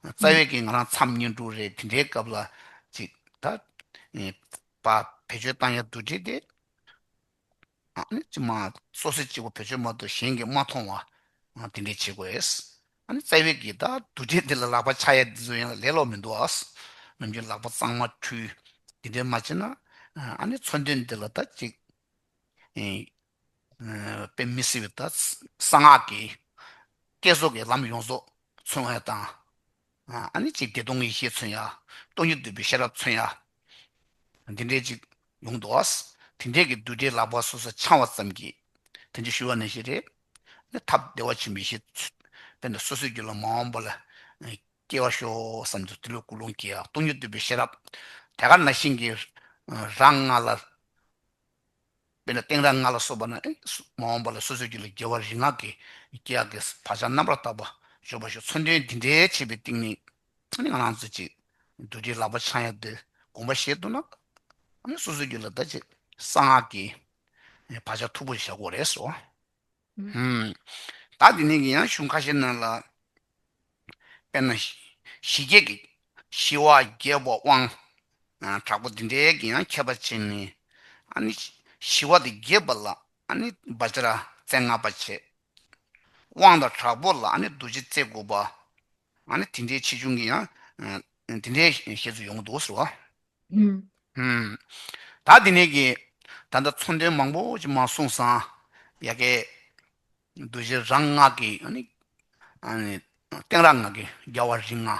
A: རྩ་བའི་གིས་ང་རང་མཚམས་བསྙེན་དྲུག་རེད་དེ་འདྲའི་སྐབས་ལ་ཅིག་ད་པ་བེད་སྤྱོད་བཏང་ཡ་བདུད་སྡེ་དེ་ཅི་མ་སོ་སོས་གཅིག་པོ་བེད་སྤྱོད་མ་གཏོགས་གཞན་གྱིས་མ་མཐོང་བ་དེ་འདྲའི་བྱེད་དགོས་རྩ་བའི་གིས་ད་བདུད་སྡེ་འདི་ལ་ལག་པ་ཆག་ཡ་འདི་ཚོ་ཡང་ལས་ལོག་མི་འདུག་ནམ་རྒྱུན་ལག་པ་གཙང་མ་འཁྲུས་དེ་འདྲའི་མ་བྱེད་ན་ཚོན་དུས་འདི་ལ་ད་ཅིག་པའི་མི་སྲིད་པའི་ཐད་གསང་སྔགས་ཀྱི་བསྐྱེད་རྫོགས་ཀྱི་ལམ་ཡོངས་རྫོགས་མཚོན་བ་དང། ཅེས་བདེ་སྟོང་གི་ཡེ་ཤེས་མཚོན་ཡང། སྟོང་ཉིད་འདུས་པའི་ཤེས་རབ་མཚོན་ཡང། འདི་འདྲའི་ཅིག་ཡོང་དུ་བ། དེ་འདྲའི་གྱི་རྡུལ་བྲལ་ལག་པ་སོ་སོར་འཆང་བ་ཙམ་གྱིས། དེ་འདྲ་ཞུ་བ་ནི་ཞེས་རེ། ཐབས་བདེ་བ་ཆེན་པོའི་ཞེས། དཔེར་ན་སོ་སོའི་རྒྱུད་ལ་མ་འོངས་པ་ལ། སྐྱེ་བར་ཤོག་བསམ་དུ་ལྟོས། ཀུན་སློང་སྐྱེ་བ་སྟོང་ཉིད་བསྡུས་པའི་ཤེས་རབ། དེ་ག་ན་ཤིང་གི་རྭ་ལྔ་ལ། དཔེར་ན་སྟེང་རྭ་ལྔ་ལ་སོགས་པ་ན། མ་འོངས་པ་ལ་སོ་སོའི་རྒྱུ་ལ་རྒྱལ་བ་རིག་སྔགས་ཀྱི། སྐྱེ་འགག་གི་བག་ཆགས་རྣམ་པར་བརྟགས་པ། འཇོག་པར་ཤོག་མཚོན་དོན་འདི་འདྲའི་བྱེད་པའི་ཏིང་ངེ། ང་རང་ཚོལ་ཅིག། རྡོ་རྗེའི་ལག་པ་འཆང་ཡང་འདི། དགོངས་པ་བཞེས་འདུག་ན། སོ་སོའི་རྒྱུད་ལ་བདག་ཅེས་གསང་སྔགས་ཀྱི། བག་ཆགས་འཐུག་པོ་བཞག་གོ་རེ་སོ། བདག་འདི་ནས་ཀྱི་ཡང་གཞུང་ཁ་ཤས་རྣམས་ལ། དཔེར་ན། ཞི་རྒྱས་ཀྱི། ཞི་བ་རྒྱས་པ་དབང། དྲག་པོ་འདི་འདྲའི་ཀྱི་ཡང་ཁྱད་པར་ཅན་ནི། ཨ་ནི། ཞི་བ་དེ་རྒྱས་པ་ལ་ཨ་ནི་བཱཅ་ར་རྩེ་ལྔ་པ་བྱེད། དབང་དང་དྲག་པོ་ལ་ཨ་ནི་རྡོ་རྗེ་རྩེ་དགུ་པ། ང་ནི་དེ་འདྲའི་ཆེ་ཆུང་གི་ཡང། དེ་འདྲའི་ཞེས་སུ་ཡོང་གི་འདུག་ཟེར་བ། ད་དེ་ནས་ཀྱི་ད་ལྟ་མཚོ་འགྲེལ་མང་པོ་ཅིག་མ་གསུངས་སང། ཡ་གའི། བསྡུ་བྱེད་རང་སྔགས་ཀྱི། སྟེང་རང་སྔགས་ཀྱི་རྒྱལ་བ་རིགས་ལྔ།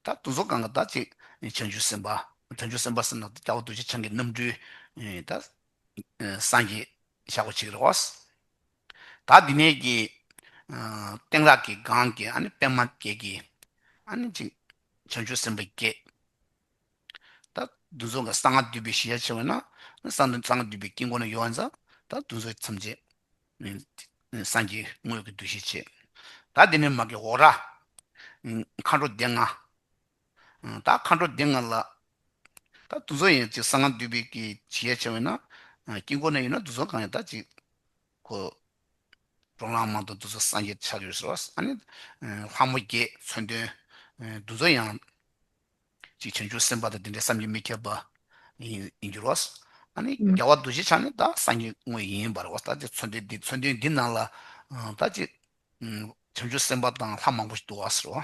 A: ད་དུང་ཟོར་གང་གི་ད་ཅིག་བྱང་ཆུབ་སེམས་དཔའ། བྱང་ཆུབ་སེམས་དཔའ་སེམས་ན་རྒྱལ་བ་རྡོ་རྗེ་འཆང་གི་རྣམ་སྤྲུལ། ད། སངས་རྒྱས་ཞག་པོ་ཆེ་གི་རེ་བ། ད་འདི་ནས་ཀྱི། སྟེང་རག་གི་སྒང་གི་པད་མ་བརྒྱད་ཀྱི། བྱང་ཆུབ་སེམས་དཔའ་བརྒྱད། ད་འདི་ཚོ་གསང་སྔགས་བསྡུས་པའི་གཞི་ཆ་ཆེ་བས་ན། གསང་སྔགས་བསྡུས་པའི་དཀྱིལ་འཁོར་ན་ཡོད་བ་འཛག། ད་འདི་ཚོ་ཐམས་ཅད། སངས་རྒྱས་དངོས་ཀྱི་འདུ་ཤེས་བྱེད། ད་འདི་ནས་མ་ཀི་འོག་རག། མཁའ་འགྲོ་སྡེ་ལྔ། ད་མཁའ་འགྲོ་སྡེ་ལྔ་ལ། ད་དུག་མཚོན་ཡིན་ཅིག་གསང་སྔགས་འདུས་པའི་གེགས། ཇི་ཡས་བྱང་བས་ན། དཀྱིལ་འཁོར་ནས་ཡོད་ན་དུག་མཚོན་གང་ཡང་དག་ཅིག། གོ། འགྲོ་ལངས་མང་དུ་འདུག་ཚེ་སངས་རྒྱས་ཆགས་ཡོད་ཟེར་བ། ཨ་ནི། ལྷ་མོ་བརྒྱད་མཚོན་དོན། དུག་མཚོན་ཡང། ཅིག་བྱང་ཆུབ་སེམས་དཔའ་དང་དེ་འདྲའི་བསམ་གྱིས་མི་ཁྱབ་པ། ཡིན། འགྱུར་བ། ཨ་ནི། རྒྱལ་བ་འདུ་བྱེད་ཆགས་ནི་
B: ད་
A: སངས་རྒྱས་དངོས་ཡིན། བར་བ། ད་ཅིག་མཚོན་དོན་འདི་མཚོན་དོན་འདི་རྣམས་ལ། ད་ཅིག། བྱང་ཆུབ་སེམས་དཔའ་དང་ལྷ་མང་པོ་ཞིག་འདུག་བ་ཟེར་བ།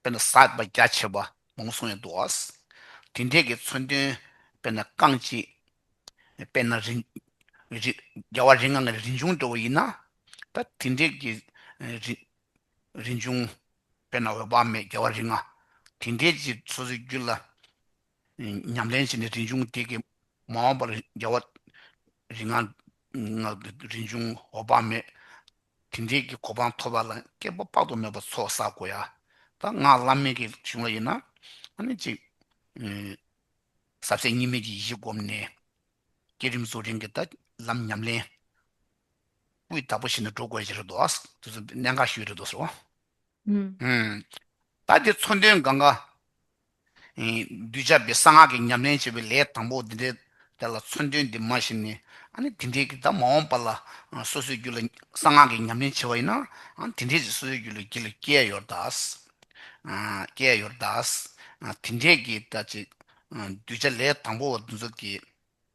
A: དཔེར་ན་ཟག་པ་རྒྱ་ཆེ་བ་མང་སོང་ཡང་འདུག་ཨཱ། དེ་འདྲས་ཀྱི་མཚོན་དོན་དཔེར་ན་རྐང་གཅིག། དཔེར་ན་རི། རྒྱལ་བ་རིགས་ལྔ་ལྔ་རིན་འབྱུང་འགྲོ་བ་ཡིན་ན། ད་དེ་འདྲས་ཀྱི། རི། རིན་འབྱུང། དཔེར་ན་འོད་དཔག་མེད་རྒྱལ་བ་རིགས་ལྔ། དེ་འདྲས་ཀྱི་སོ་སོའི་རྒྱུད་ལ། ཉམས་ལེན་བྱས་ནས་རིན་འབྱུང་དེ་གའི་མ་འོངས་པར་རྒྱལ་བ། རིགས་ལྔ། རིན་འབྱུང་འོད་དཔག་མེད། དེ་འབྲེལ་གྱི་གོ་འཕང་ཐོབ་པ་ལ་སྐྱེ་བོ་དཔག་ཏུ་མེད་པ་ཚོགས་བསགས་དགོས་ཡ། ད་སྔགས་བླ་མེད་ཀྱི་གཞུང་ལ་ཡིན་ན། ཨ་ནི་གཅིག། ཟབ་གསལ་གཉིས་མེད་ཀྱི་གཞི་བསྒོམས་ནས། བསྐྱེད་རིམ་རྫོགས་རིམ་གྱི་ད་ལམ་ཉམས་ལེན། སྐུའི་བདག་པོ་བྱས་ནས་འགྲོ་དགོས་ཀྱི་རེད་དོ། དེ་ཚོ་གནད་འགག་ཞིག་ཡོད་རེད་དོ་ཟེར་བ།
B: བདག་
A: གི་མཚོན་དོན་གང་གཱ། གདུལ་བྱ་བའི་གསང་སྔགས་ཀྱི་ཉམས་ལེན་བྱེད་པའི་ལས་དང་པོ་འདི་འདྲའི་དེ་ལ་མཚོན་དོན་འདི་མ་བྱིན་ནས་དེ་འདྲའི་གྱི་དང་མ་འོངས་པ་ལ་སོ་སོའི་རྒྱུད་ལ་གསང་སྔགས་ཀྱི་ཉམས་ལེན་བྱེད་པ་ཡིན་ན་དེ་འདྲའི་གྱི་སོ་སོའི་རྒྱུད་ལ་གྱི་ལ་སྐྱེས་ཡོར་དག། སྐྱེས་ཡོར་དག། དེ་འདྲའི་གྱི་དག་ཅིག། གདུལ་བྱ་ལས་དང་པོ་བ་འདི་ཚོ་གྱི།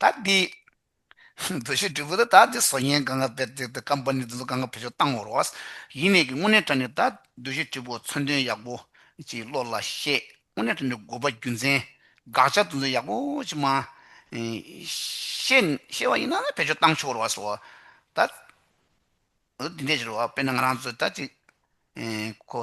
B: དག་གི།
A: བོད་ཤོད་དྲིལ་བུ་དང་དག་གི་སོ་ཉལ་གངྒཱ་བེར་བརྩེགས་ཏེ་ཀམ་པ་ནི་དེ་ཚོ་གངྒཱ་བེར་ཤོད་བཏང་བར་རོགས། ཡིན་ནས་ཀྱི་དངོས་གནས་བཀྲ་ནི་དག་བདུད་བཞི་དྲིལ་བུ་མཚོན་དོན་ཡག་པོ། ཅེས་བློ་ལ་ཤེས། དངོས་གནས་བཀྲ་ནི་དགོས་པ་རྒྱུ་མཚན། དགག་བྱ་དེ་ཚོ་ཡག་པོ་ཅིག་མ། ཤེས། ཤེས་བ་ཡིན་ན་ནི་བེར་ཤོད་བཏང་ཆོག་རོགས་སོ། དག། འདི་འདྲས་ཀྱི་རོགས་དཔེར་ན་ང་རང་ཚོ་དག་གཅིག། ཁོ།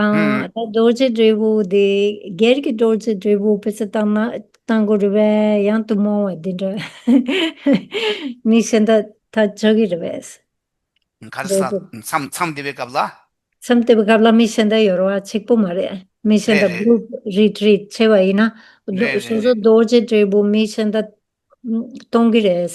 A: ཨང། ད་རྡོ་རྗེ་
B: དྲིལ་བུ་འདི་སྒེར་གྱི་རྡོ་རྗེ་དྲིལ་བུ་ཕུད་ཚུལ་བཏང་ན་བཏང་གོ་རི་བས་ཡང་དུ་མོང་བ་འདི་འདྲ་མི་ཤི་འདི་ད་ཆོ་གི་རི་བས། གར་ས་མཚམས་
A: མཚམས་
B: འདི་བའི་སྐབས་ལ།
A: མཚམས་དེ་བའི་སྐབས་ལ་
B: མི་ཤི་འདི་ཡོར་བ་ཆིག་པོ་མ་རེད་མི་ཤི་འདི group retreat བྱེད་པ་ཡིན་ན། རེད་རེད་སོ་སོ་རྡོ་
A: རྗེ་
B: དྲིལ་བུ་མི་ཤི་འདི་གཏོང་གི་རེད།